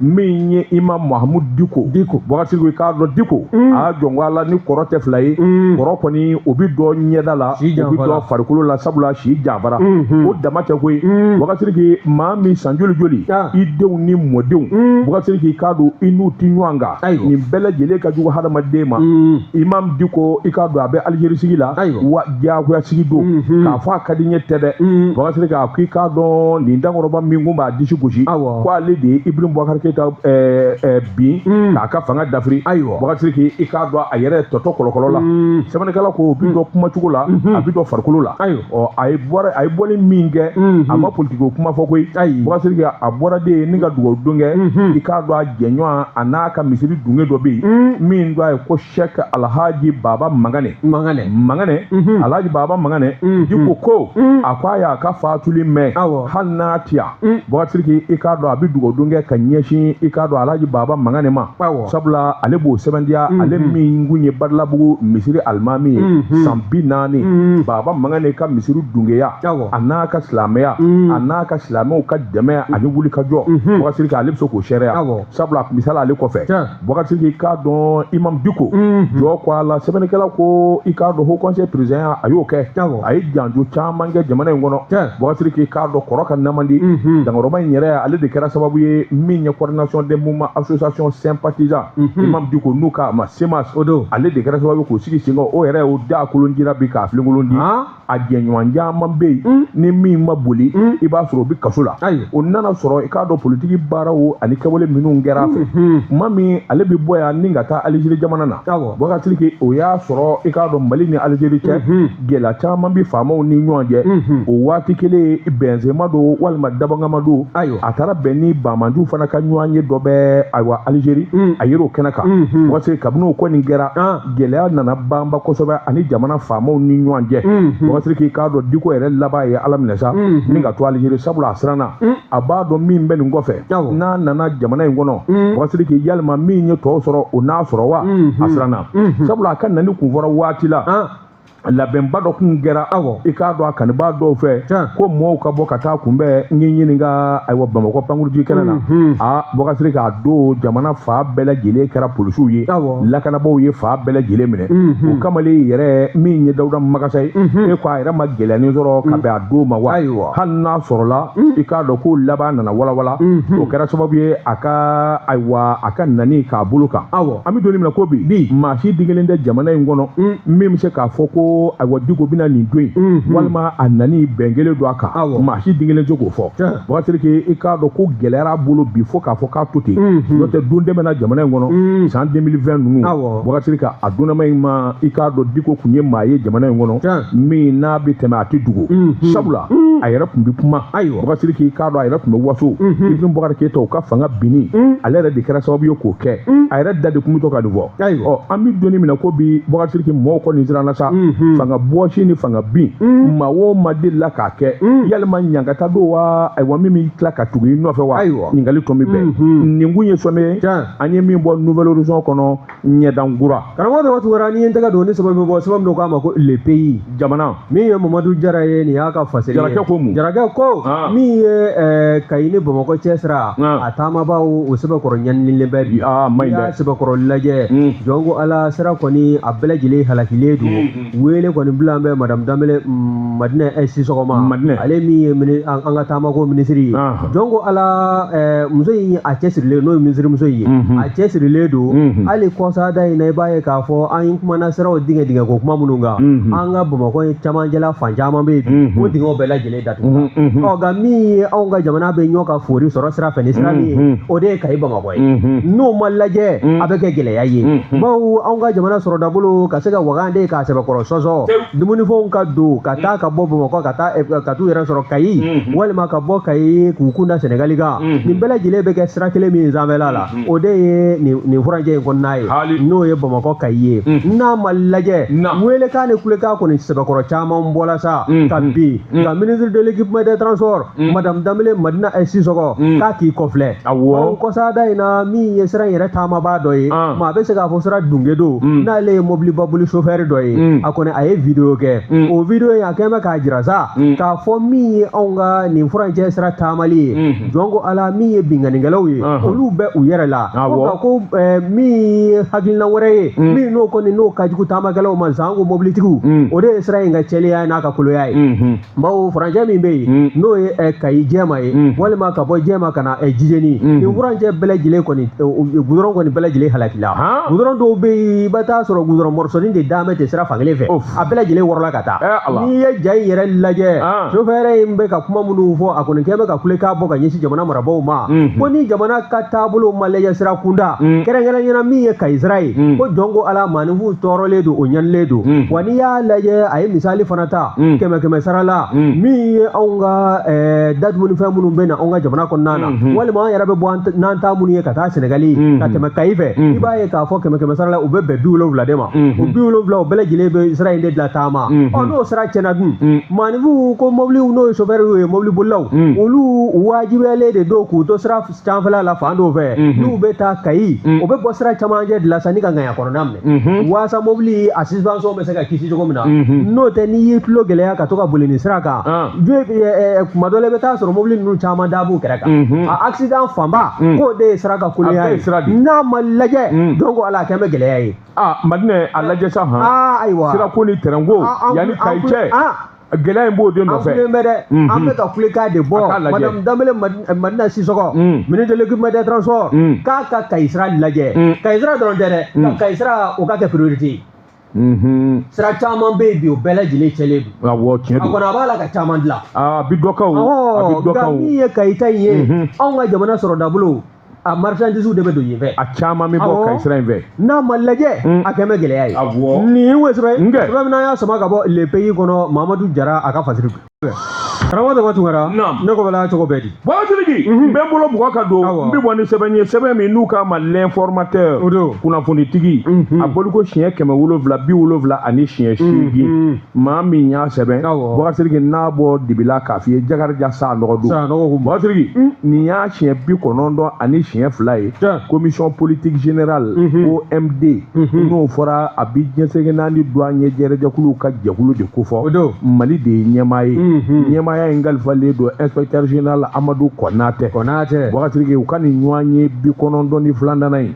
min ye imam mahamud diko diko bakari siriki i k'a dɔn diko mm. a jɔn ko ala ni kɔrɔ tɛ fila ye mm. kɔrɔ kɔni o bɛ dɔn ɲɛda la o bɛ dɔn farikolo la sabula si janyara mm-hmm. o dama tɛ koyi mm. bakari siriki maa min san joli joli ah. i denw ni mɔdenw bakari siriki i k'a dɔn i n'u ti ɲɔgɔn kan nin bɛɛ lajɛlen ka jugu hadamaden ma imam diko i k'a dɔn a bɛ alizeri sigi la wa diyagoyasigi don mhm. k'a fɔ a ka di a ye tɛ dɛ mhm. bakari siriki a ko i k'a dɔn nin dankɔrɔba min kun b'a disi gosi ko ale de ye ibrahim bubakari keyita eh, eh, bin mhm. k'a ka fanga dafiri ayiwa bakari siriki i k'a dɔn a yɛrɛ tɔtɔ kɔlɔkɔlɔ la sɛbɛnnikɛla ko o bi dɔn kuma cogo la a bi dɔn farikolo la ɔ a ye bɔra a ye bɔli min kɛ a ma politiki kuma fɔ koyi ayi bakari siriki a bɔra de ye ni ka dugawu don kɛ i k'a dɔn a jɛɲɔgɔn a n'a ka misiri dunge dɔ bɛ yen min tɔgɔ ye ko sɛk alhaji baba mangane mangane mangane mhm. alhaji baba mangane mhm. diko ko mhm. a ko a y'a ka fatuli mɛn hali n'a ti yan bakari siriki i k'a dɔn a bɛ dugawu don kɛ ka ɲɛsin i k'a dɔn alhaji baba mangane ma sabula ale b'o sɛmɛntiya ale min kun ye badalabugu misiri alimami ye san bi naani baba mangane ka misiri dungeya a n'a ka silamɛya a n'a ka silamɛw ka dɛmɛ ani wuli ka jɔ bakari siriki ale bɛ se k'o seereya sabula tun bi sali ale kɔfɛ bakari siriki i k'a dɔn imam diko jɔ ko a la sɛbɛnnikɛla ko i k'a dɔn haut conseil président a y'o kɛ a ye janjo caman kɛ jamana in kɔnɔ bakari siriki i k'a dɔn kɔrɔ ka namandi dankɔrɔba in yɛrɛ ale de kɛra sababu ye min ye coordination des mouvements association sympathisant imam diko n'u k'a ma cmas o don ale de kɛra sababu ye k'o sigi sen kan o yɛrɛ o daga kolon cira bi k'a filenkolon ti a jɛɲɔgɔn caman bɛ yen mm. ni min ma boli mm. i b'a sɔrɔ o bɛ kaso la o nana sɔrɔ i k'a dɔn politiki baaraw ani kɛwale minnu kɛra a fɛ mm-hmm. tuma min ale bɛ bɔ yan ni ka taa alizeri jamana na bakari siriki o y'a sɔrɔ i k'a dɔn mali ni alizeri cɛ mm-hmm. gɛlɛya caman bɛ faamaw ni ɲɔgɔn cɛ mm-hmm. o waati kelen bɛnsenma don walima dabangama don ayiwa a taara bɛn ni banbaanciw fana ka ɲɔgɔn ye dɔ bɛ ayiwa alizeri mm. a yer'o kɛnɛ kan parce que kabini o kɔni kɛra ah. gɛlɛya nana banba kosɛbɛ a ni jamana faamaw ni ɲɔgɔn cɛ bakasiriki k'a dɔn diko yɛrɛ laban ye ala minɛ sa ni ka to aliziri sabula a siranna a b'a dɔn min bɛ nin kɔfɛ n'a nana jamana in kɔnɔ bakasiriki yalima min ye tɔw sɔrɔ o n'a sɔrɔ wa a siranna sabula a ka nani kun fɔra waati la labɛnba dɔ kun kɛra awɔ i k'a dɔn a kanubaa dɔw fɛ ko mɔɔw ka bɔ ka taa a kunbɛn n ye ɲininka ayiwa bamakɔ pankurunjiginkɛnɛ na mhm. a bakasiriki a don jamana fan bɛɛ lajɛlen kɛra polisiw ye lakanabaaw ye fan bɛɛ lajɛlen minɛ mhm. o kamalen yɛrɛ min ye dawuda magasa ye mhm. e ko a yɛrɛ ma gɛlɛyanin sɔrɔ ka bɛn a don ma wa hali n'a sɔrɔla i k'a dɔn ko laban nana walawala o kɛra sababu ye a ka ayiwa a ka nani k'a boloka awɔ an bɛ don min na ko bi maa si den kelen tɛ jamana in kɔnɔ min bɛ se k'a fɔ ko ayiwa diko bɛ na nin don in mhm. walima a nani bɛn kɛlen don a kan maa si den kelen tɛ k'o fɔ bakasiriki i k'a dɔn ko gɛlɛyara a bolo bi fo k'a fɔ k'a to ten mhm. n'o tɛ don tɛmɛna jamana in kɔnɔ mhm. san 2020 ninnu bakasiriki a donnama in ma i k'a dɔn diko tun ye maa ye jamana in kɔnɔ min n'a bɛ tɛmɛ a tɛ dogo sabula a yɛrɛ tun bɛ kuma ayiwa bakasiriki i k'a dɔn a yɛrɛ tun bɛ waso ibrahim bubakari keyita u ka fanga binni ale yɛrɛ de kɛra sababu ye k'o kɛ a yɛrɛ da de tun bɛ to ka nin fɔ ayi ɔ an bɛ don min na ko bi bakasiriki mɔgɔw kɔni siranna sa mhm. fanga bɔsi ni fanga bin mhm. maa o maa delila k'a kɛ mhm. yalima ɲangata don wa ayiwa min bɛ tila ka tugu i nɔfɛ wa ɲininkali tomi bɛ nin kun ye fɛn ye an ye min bɔ nouvel horizon kɔnɔ ɲɛdan kura karamɔgɔ dɔ waati wɛrɛ n'i ye n tɛgɛ don ni sɛbɛn bɛ bɔ sɛbɛn min don k'a ma ko le pays jamana min ye mamadu jara ye nin y'a ka fasiri ye jarakɛ ko mun jarakɛ ko min ye eh, kayi ni bamakɔ cɛ sira a taamabaaw u sɛbɛkɔrɔ ɲanilen bɛ bi n'i y'a sɛbɛkɔrɔ lajɛ hmm. jɔn ko ala sira kɔni a bɛɛ lajɛlen halakilen don hmm, hmm. weele kɔni bila bɛ madamu danbele mm, madina ɛ eh, sisɔgɔ ma ale min ye an ka taamako minisiri ye jɔn ko ala eh, muso in a cɛsirilen n'o ye minisiri muso in ye mhm. a cɛsirilen don mhm. hali kɔsada in na i b'a ye k'a fɔ an kumana siraw dingɛ dingɛ ko kuma minnu kan mhm. an ka bamakɔ in camancɛ la fan caman bɛ yen bi o dingɛw bɛɛ lajɛlen datugula ɔ nka min ye anw ka jamana bɛ ɲɔ ka fori sɔrɔ sira fɛ ni sira min ye o de ye kayi bamakɔ ye n'o ma lajɛ a bɛ kɛ gɛlɛya ye bawo anw ka jamana sɔrɔdabolo ka se ka wagan de k'a sɛbɛkɔrɔ sɔsɔ dumunifɛnw ka don ka taa ka bɔ bamakɔ ka taa eh, ka t'u yɛrɛ sɔrɔ kayi mhm. walima ka bɔ kayi k'u kunda sɛnɛgali kan mhm. nin bɛɛ lajɛlen bɛ kɛ sira kelen min sanfɛla la mhm. o de ye nin furancɛ in kɔnɔna ye n'o ye bamakɔ kayi ye n'a ma lajɛ welekan ni kulekan kɔni sɛbɛkɔrɔ caman bɔla sa ka bin ka ministre de l'équipement des transports madame danbele madina ɛ sisɔgɔ k'a k'i kɔfilɛ Aw kɔsada in na min ye sira yɛrɛ taamabaa dɔ ye maa bɛ se k'a fɔ sira dunge don n'ale ye mɔbilibaboli sofɛri dɔ ye a kɔni a ye vidéo kɛ o vidéo in a kɛlen bɛ k'a jira sa k'a fɔ min ye anw ka nin furancɛ sira taamali ye jɔn ko ala min ye binkannikɛlaw ye olu bɛ u yɛrɛ la ko min ye hakilina wɛrɛ ye min n'o kɔni n'o ka jugu taamakɛlaw ma sanko mɔbilitigiw o de ye sira in ka cɛlenya n'a ka koloya ye bawo furancɛ min bɛ yen n'o ye kayi jɛma ye walima ka bɔ jɛma ka na jijeni nin furancɛ bɛɛ lajɛlen kɔni gudɔrɔn kɔni bɛɛ lajɛlen halakila gudɔrɔn dɔw bɛ yen i bɛ taa sɔrɔ gudɔrɔn mɔrɔsonin de dalen bɛ ten sira fankelen fɛ a bɛɛ lajɛlen wɔrɔla ka taa n'i ye ja in yɛrɛ lajɛ sofɛri in bɛ ka kuma minnu fɔ a kɔni kɛlen bɛ ka kulekan bɔ ka ɲɛsin jamana marabaaw ma ko ni jamana ka taabolo ma lajɛ sira kunda kɛrɛnkɛrɛnnenya min ye kayi sira ye ko jɔn ko ala maaninfinw tɔɔrɔlen don o ɲanilen don wa n'i y'a lajɛ a ye misali fana ta mm. kɛmɛ kɛmɛ sara la mm. min ye anw ka eh, da dumunifɛn minnu bɛ na anw ka jamana kɔnɔna na mm-hmm. walima an yɛrɛ bɛ bɔ n'an ta minnu ye ka taa sɛnɛgali mm-hmm. ka tɛmɛ kayi fɛ mm-hmm. i b'a ye k'a fɔ kɛmɛ kɛmɛ sara la u bɛ bɛn bi wolonwula de ma o bi wolonwula o bɛɛ lajɛlen bɛ sira in de lataama ɔ n'o sira tiɲɛna dun maanifinw ko mɔbiliw n'o ye sofɛriw ye mɔbilibolilaw olu wajibiyalen de don k'u to sira sanfɛla la fan dɔw fɛ mhm. n'u bɛ taa kayi mhm. o bɛ bɔ sira camancɛ de la sanni ka ŋaɲa kɔnɔna minɛ mhm. waasa mobili a suspension bɛ se ka kisi cogo min na n'o tɛ n'i y'i tulo gɛlɛya ka to ka boli nin sira kan ah. kuma dɔ la i bɛ taa sɔrɔ mobili ninnu caman da b'u kɛrɛ kan a accident fanba k'o de ye sira ka koloya ye n'a ma lajɛ donc ala a kɛlen bɛ gɛlɛya ye ah, madina a lajɛ sa han ah, ayiwa sirako ni tɛrɛnko yanni kayi cɛ gɛlɛya in b'o de nɔfɛ an kulen bɛ dɛ an bɛ ka kulekan de bɔ madame danbele madina sisɔgɔ ministre de l'équipement des transports k'a ka kayi sira lajɛ kayi sira dɔrɔn tɛ dɛ ka kayi sira o ka kɛ priorité ye Mm-hmm. sira caman bɛ yen bi o bɛɛ lajɛlen cɛlen don awɔ tiɲɛ don a kɔni a b'a la ka caman dilan a bi dɔ kɛ o a bi dɔ kɛ o nka min ye kayi ta in ye mm-hmm. anw ka jamana sɔrɔdabolo a marchandises de bɛ don yen fɛ. a caman bɛ bɔ kayi sira in fɛ. n'a ma lajɛ. Hmm. a kɛlen bɛ gɛlɛya ye. awɔ nin ye sɛbɛn ye. n kɛ sɛbɛn min n'an y'a sama ka bɔ le pays kɔnɔ mamadu jara a ka fasiri don. karamɔgɔ daba tunkara. naam ne ko bala cogo bɛ di. basiriki. n mhm. bɛ bolo bugɔ ka don. awɔ n bɛ bɔ ni sɛbɛn ye sɛbɛn min n'u k'a ma l'informateur. o don kunnafonitigi. Mhm. a boliko siɲɛ kɛmɛ wolonwula bi wolonwula ani siɲɛ seegin. Mhm. maa min y'a sɛbɛn basiriki n'a bɔ dibi la k'a f'i ye jakarija sanɔgɔ don basiriki hmm. nin y'a siɲɛ bi kɔnɔntɔn ani siɲɛ fila ye commission politique générale mhm. omd mhm. n'o fɔra a bi diɲɛ seleke naani douanier jɛrɛjɛkuluw ka jɛkulu de kofɔ mali de ye ɲɛmaa ye mhm. ɲɛmaaya in kalifalen don inspecteur général amadu kɔnatɛ basiriki u ka nin ɲɔgɔnye bi kɔnɔntɔn ni filanan ye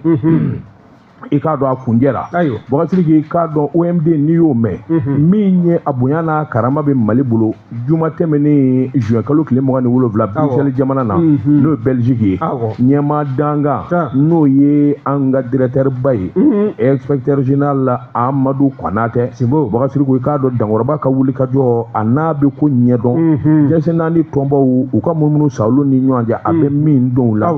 i k'a dɔn a kunjɛra bakasiriki i k'a dɔn omd n'i y'o mɛn mhm. min ye a bonya n'a karama bɛ mali bolo juma tɛmɛnen juin kalo tile mugan ni wolonwula bruxelles jamana na mhm. n'o ye belgique ye ɲɛmaa dankan n'o ye an ka directeur ba ye mhm. inspecteur général amadu kɔnatɛ bakasiriki i k'a dɔn dankɔrɔba ka wuli ka jɔ a n'a bɛ ko ɲɛdɔn jɛnsɛn naani tɔnbaw u ka munumunu saalo ni ɲɔgɔn cɛ a bɛ min dɔn u la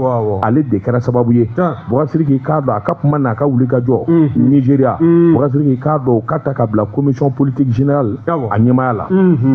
ale de kɛra sababu ye bakasiriki i k'a dɔn a ka kuma n'a ka wuli ka jɔ nigeria bakasiriki k'a dɔn ka ta ka bila commission politique générale a ɲɛmaaya la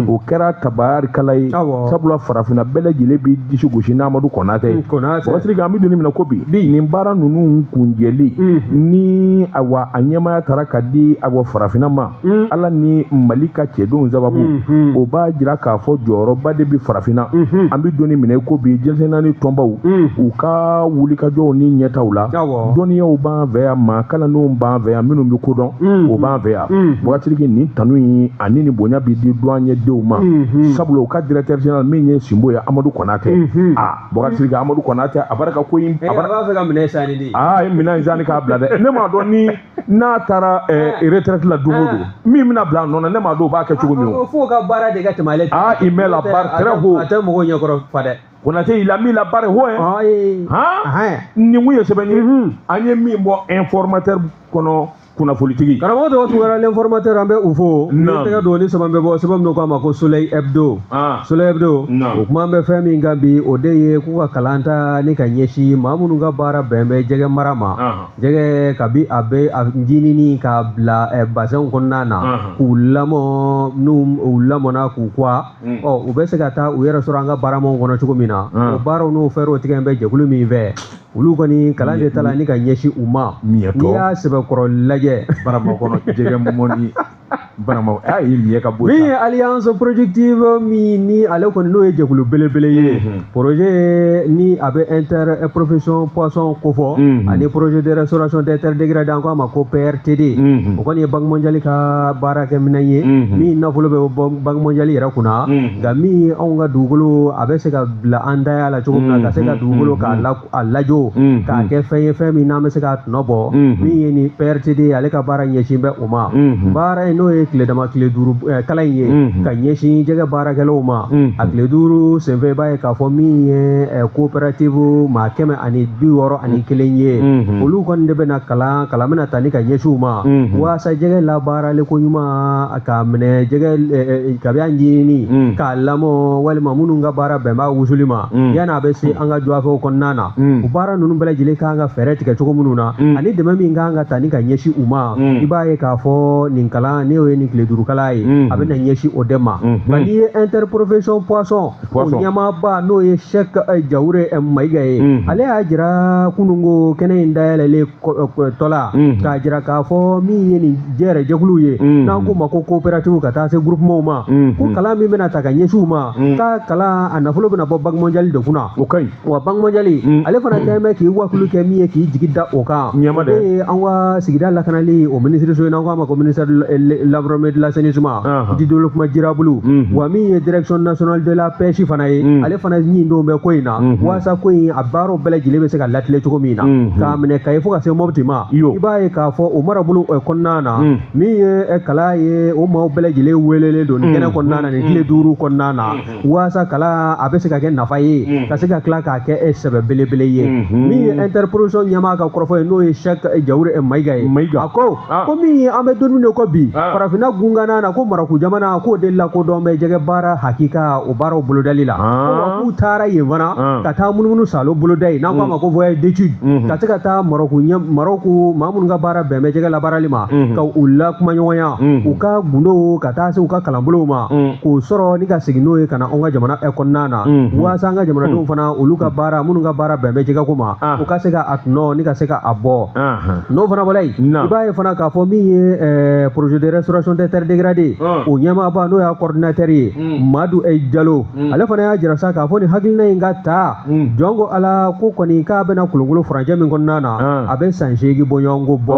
o kɛra tabarikala ye sabula farafinna bɛɛ lajɛlen bɛ disi gosi n'amadu kɔnatɛ ye bakasiriki an bɛ don min na ko bi nin baara ninnu kunjɛli ni awa a ɲɛmaaya tara ka di awa farafinna ma mm. ala ni mali ka cɛdenw sababu mm-hmm. o b'a jira k'a fɔ jɔyɔrɔba de bɛ farafinna mm-hmm. an bɛ don min na ko bi jɛnsɛn naani tɔnbaw mm. u ka wulikajɔw ni ɲɛtaw la dɔnniyaw b'an fɛ yan maa kalannenw b'an fɛ yan minnu bɛ ko dɔn mm-hmm. o b'an fɛ yan bakasiriki nin tanu in ani nin bonya bɛ di douanier denw ma sabula u ka directeur général min ye sinbo ye amadu kɔnatɛ bakasiriki amadu kɔnatɛ a barika ko in a barika fɛ ka minɛ sanni de a ye minɛ sanni k'a bila dɛ ne m'a dɔn ni n'a taara retraite la don o don min bɛna bila a nɔ na ne m'a dɔn u b'a kɛ cogo min o f'o ka baara de ka tɛmɛ ale ta il met la barre très haut a tɛ mɔgɔw ɲɛkɔrɔ fa dɛ konate il a mis la barre haut han nin kun ye sɛbɛn ye an ye min bɔ informateur kɔnɔ kunnafolitigi karamɔgɔ dɔw tun kɛra l'informateur an bɛ u fo ne tɛgɛ don ni sɛbɛn bɛ bɔ sɛbɛn min k'a ma ko soleil hebdo soleil hebdo o kuma bɛ fɛn min kan bi o de ye k'u ka kalan ta ni ka ɲɛsin maa minnu ka baara bɛn bɛ jɛgɛ mara ma jɛgɛ kabi a bɛ a ɲinini k'a bila eh, basɛnw kɔnɔna na k'u lamɔ n'u u lamɔna k'u kwa mm. ɔ u bɛ se ka taa u yɛrɛ sɔrɔ an ka baramaw kɔnɔ cogo min na o baaraw n'o fɛɛrɛw tigɛ bɛ jɛkulu min fɛ olu kɔni kalan de tala ni ka ɲɛsin u ma n'i y'a sɛbɛkɔrɔ lajɛ barama kɔnɔ jɛgɛ mɔni barama a y'i ɲɛ ka bɔ min ye alliance productive min ni ale kɔni n'o ye jɛkulu belebele ye mhm. projet ni a bɛ interprofession poisson kofɔ mhm. ani projet de restauration des terres dégradées an k'a ma ko PRTD mhm. o kɔni ye banque mondiale ka baarakɛminɛn ye min nafolo bɛ bɔ banque mondiale yɛrɛ kunna nka min anw ka dugukolo a bɛ se ka bila an daya la cogo min na ka se ka dugukolo k'a la a lajɔ k'a kɛ fɛn ye fɛn min n'an bɛ se k'a tɔnɔ bɔ min ye ni prtd ale ka baara ɲɛsin bɛ o ma baara in n'o ye tile dama tile duuru kalan in ye ka ɲɛsin jɛgɛ baarakɛlaw ma a tile duuru senfɛ i b'a ye k'a fɔ min ye coopérative maa kɛmɛ ani bi wɔɔrɔ ani kelen ye olu kɔni de bɛna kalan kalan bɛna ta ni ka ɲɛsin u ma waasa jɛgɛ labaarali ko ɲuman k'a minɛ jɛgɛ kabi a ɲinini k'a lamɔ walima minnu ka baara bɛn b'a wusuli ma yan'a bɛ se an ka jɔafɛw kɔnɔna na u baara ninnu bɛɛ lajɛlen kan ka fɛɛrɛ tigɛ cogo minnu na ani dɛmɛ min kan ka ta ni ka ɲɛsin u ma i b'a ye k'a fɔ nin kalan n'o ye nin tile duuru kalan ye a bɛna ɲɛsin o de ma nka n'i ye interprofession poisson o ɲɛmaaba n'o ye sɛk jawure mayiga ye ale y'a jira kunungo kɛnɛ in dayɛlɛlen tɔla mm. k'a jira k'a fɔ min ye nin jɛgɛ jɛkuluw ye mm. n'an k'o ma ko coopérative ka taa se groupement ma mm. ko kalan min bɛna ta ka ɲɛsin u ma k'a kalan a nafolo bɛna bɔ banque mondiale de kunna o ka ɲi wa banque mondiale ale fana kɛlen bɛ k'i wakili kɛ min ye k'i jigi da o kan n'o ye an ka sigida lakanali o minisiriso ye n'an k'a ma ko ministère de l'environnement de l'assainissement du développement durable wa min ye direction nationale de la pêche fana ye ale fana ɲin don bɛ ko in na Mhm. waasa ko in a baaraw bɛɛ lajɛlen bɛ se ka latilen cogo min na mhm. k'a minɛ Kayi fo ka se Mopti ma i b'a ye k'a fɔ o marabolo eh, kɔnɔna na mhm. min ye eh, kalan ye o maaw bɛɛ lajɛlen weelelen don nin kɛnɛ kɔnɔna na nin tile duuru kɔnɔna na waasa kalan a bɛ se ka kɛ nafa ye ka se ka tila k'a kɛ eh, sɛbɛ belebele ye min ye interprofession ɲɛmaa ka kɔrɔfɔ ye n'o ye Sɛki Jawure Mayiga ye a ko Ah. komi an bɛ don min de ko bi ah. farafinna gun kanna na ko marɔku jamana k'o de lakodɔn bɛ jɛgɛ baara hakika o baaraw bolodali la ah. k'u taara yen fana ka taa munumunu salo boloda yen n'an k'a ma mm. ko voyage d'étude mm-hmm. ka se ka taa marɔku marɔku maa minnu ka baara bɛn bɛ jɛgɛ labaarali ma mm-hmm. ka u lakumaɲɔgɔnya mm-hmm. u ka gundow ka taa se u ka kalanbolow ma mm. k'o sɔrɔ ni ka segin n'o ye ka na anw ka jamana eh, kɔnɔna na waasa an ka jamanadenw mm. fana olu ka baara minnu ka baara bɛn bɛ jɛgɛko ma u ka se ka a tɔnɔ ni ka se ka a bɔ n'o fana bɔla yen i b'a ye fana k'a fɔ min ye eh, projet de restauration des terres dégradées o ɲɛmaaba n'o y'a coordinateur ye hmm. madu e jalo hmm. ale fana y'a jira sa k'a fɔ nin hakilina in ka ta hmm. jɔn ko ala ko kɔni k'a bɛna kolonkolo furancɛ min kɔnɔna na ah. a bɛ san seegin bɔɲɔgɔnko bɔ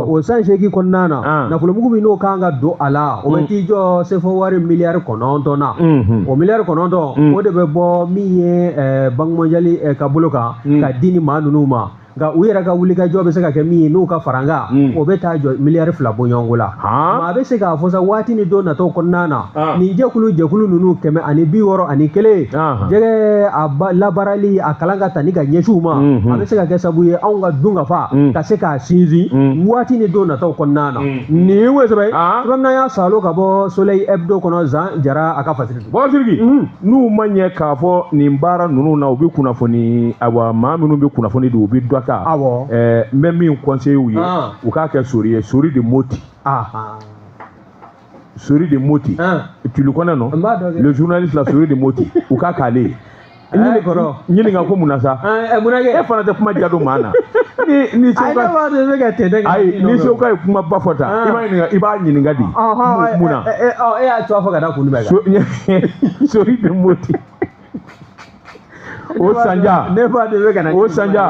o san seegin kɔnɔna na ah. nafolomugu min n'o kan ka don a la o bɛ t'i jɔ sefo wari miliyari kɔnɔntɔn na o miliyari kɔnɔntɔn o de bɛ bɔ min ye eh, banque mondiale eh, ka bolo kan ka di ni maa ninnu ma nka u yɛrɛ ka wulikajɔ bɛ se ka kɛ min ye n'u ka farankan o bɛ taa jɔ miliyari fila bɔɲɔgɔnko la maa bɛ se k'a fɔ sa waati ni don nataw kɔnɔna na nin jɛkulu jɛkulu ninnu kɛmɛ ani bi wɔɔrɔ ani kelen jɛgɛ a labaarali a kalan ka ta ni ka ɲɛsin u ma a bɛ se ka kɛ sabu ye anw ka dunkafa ka se ka sinsin waati ni don nataw kɔnɔna na nin ye sɛbɛ tuma y'a salo ka bɔ soleil hebdo kɔnɔ zan jara a ka fasiri n'u ma ɲɛ k'a fɔ nin baara ninnu na u bɛ kunnafoni awa maa minnu bɛ kunnafoni di u bɛ dɔ ta awɔ ɛɛ n bɛ min conseiller u ye ah. u k'a kɛ sori ye sori de moti ah. sori de moti ah. tu le connais non le journaliste là sori de moti u k'a k'ale ye ɲini kɔrɔ ɲininka ko mun na sa e fana tɛ kuma jadon maa na ni ni seko ka ayi ni seko ka ye kuma ba fɔ ta i b'a ɲininka i b'a ɲininka de mun na e y'a to a fɔ ka da kun bɛ sori de moti o sanja ne ba de bɛ ka na o sanja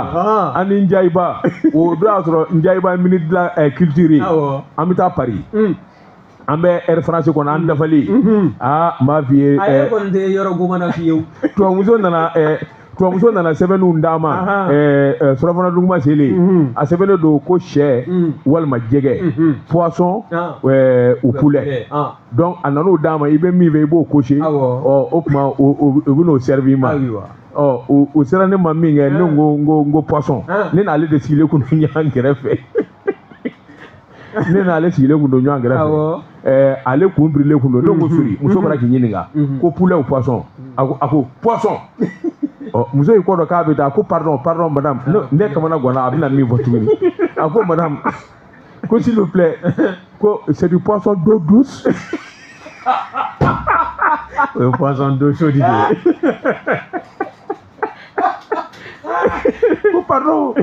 an ni Njayi Ba o don y'a sɔrɔ Njayi Ba ye ministre de la culture ye an bɛ taa Paris an bɛ Air France kɔnɔ an dafali aa n b'a f'i ye a yɛrɛ kɔni tɛ yɔrɔ goman na fiyewu tubabumuso nana ɛ tubabumuso nana sɛbɛnniw d'a ma Ahan. ɛɛ, ɛɛ, surafana dun tuma selen Mhm. a sɛbɛnnen don ko sɛ Mhm. walima jɛgɛ Mhm. poisson Ah. ɛɛ, ou poulet Ah. donc a nan'o d'a ma i bɛ min fɛ i b'o cocher Awɔ. ɔ o tuma o o- o bɛn'o servir i ma Ayiwa. ɔ o o sera ne ma min kɛ ne ko n ko n ko poisson Ah. ne n'ale de sigilen kun bɛ ɲɔgɔn kɛrɛfɛ ne n'ale sigilen kun don ɲɔgɔn kɛrɛfɛ ɛɛ ale kun birilen kun don ne ko sori muso b'a la k'i ɲininka ko poulet ou poisson a ko a ko poisson ɔ muso y'i kɔ don k'a bɛ taa ko pardon pardon madame ne kamanaganna a bɛna min fɔ tuguni a ko madame ko s'il vous plaît ko c'est du poisson d'eau douce o ye poisson d'eau chaude de ye ko pardon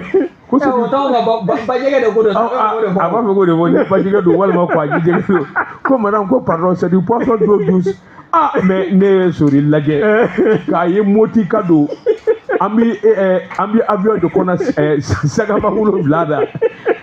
ko sigi o t'anw ka bajɛgɛ de ko don a b'a fɛ k'o de fɔ ni bajɛgɛ don walima kɔgɔji jɛgɛ don ko madame ko pardon c'est du poisson d'eau douce ah mais ne ye sori lajɛ k'a ye motika don an bi an bi avion de kɔnɔ sankaba wolonwula da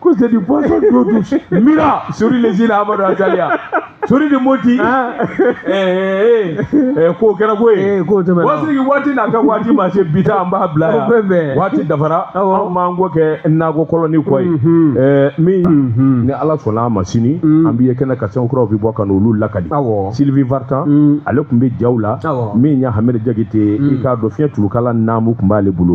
ko c'est du poisson d'eau douce mira sori les îles Amadou Azalia sori de Moti ah. eh, eh, eh, ko kɛra ko ye wasiri waati n'a ka waati ma se bi ta an b'a bila yan waati dafara an b'an ko kɛ nakɔ kɔlɔni kɔ ye mhm. min mhm. ni Ala sɔnna a ma sini mhm. an bi yen kɛnɛ kan fɛn kuraw bi bɔ ka n'olu lakali Sylvie Vartan ale tun bɛ jaw la min ye Hamɛdi Jakite i k'a dɔn fiɲɛ tulukala naamu tun b'ale bolo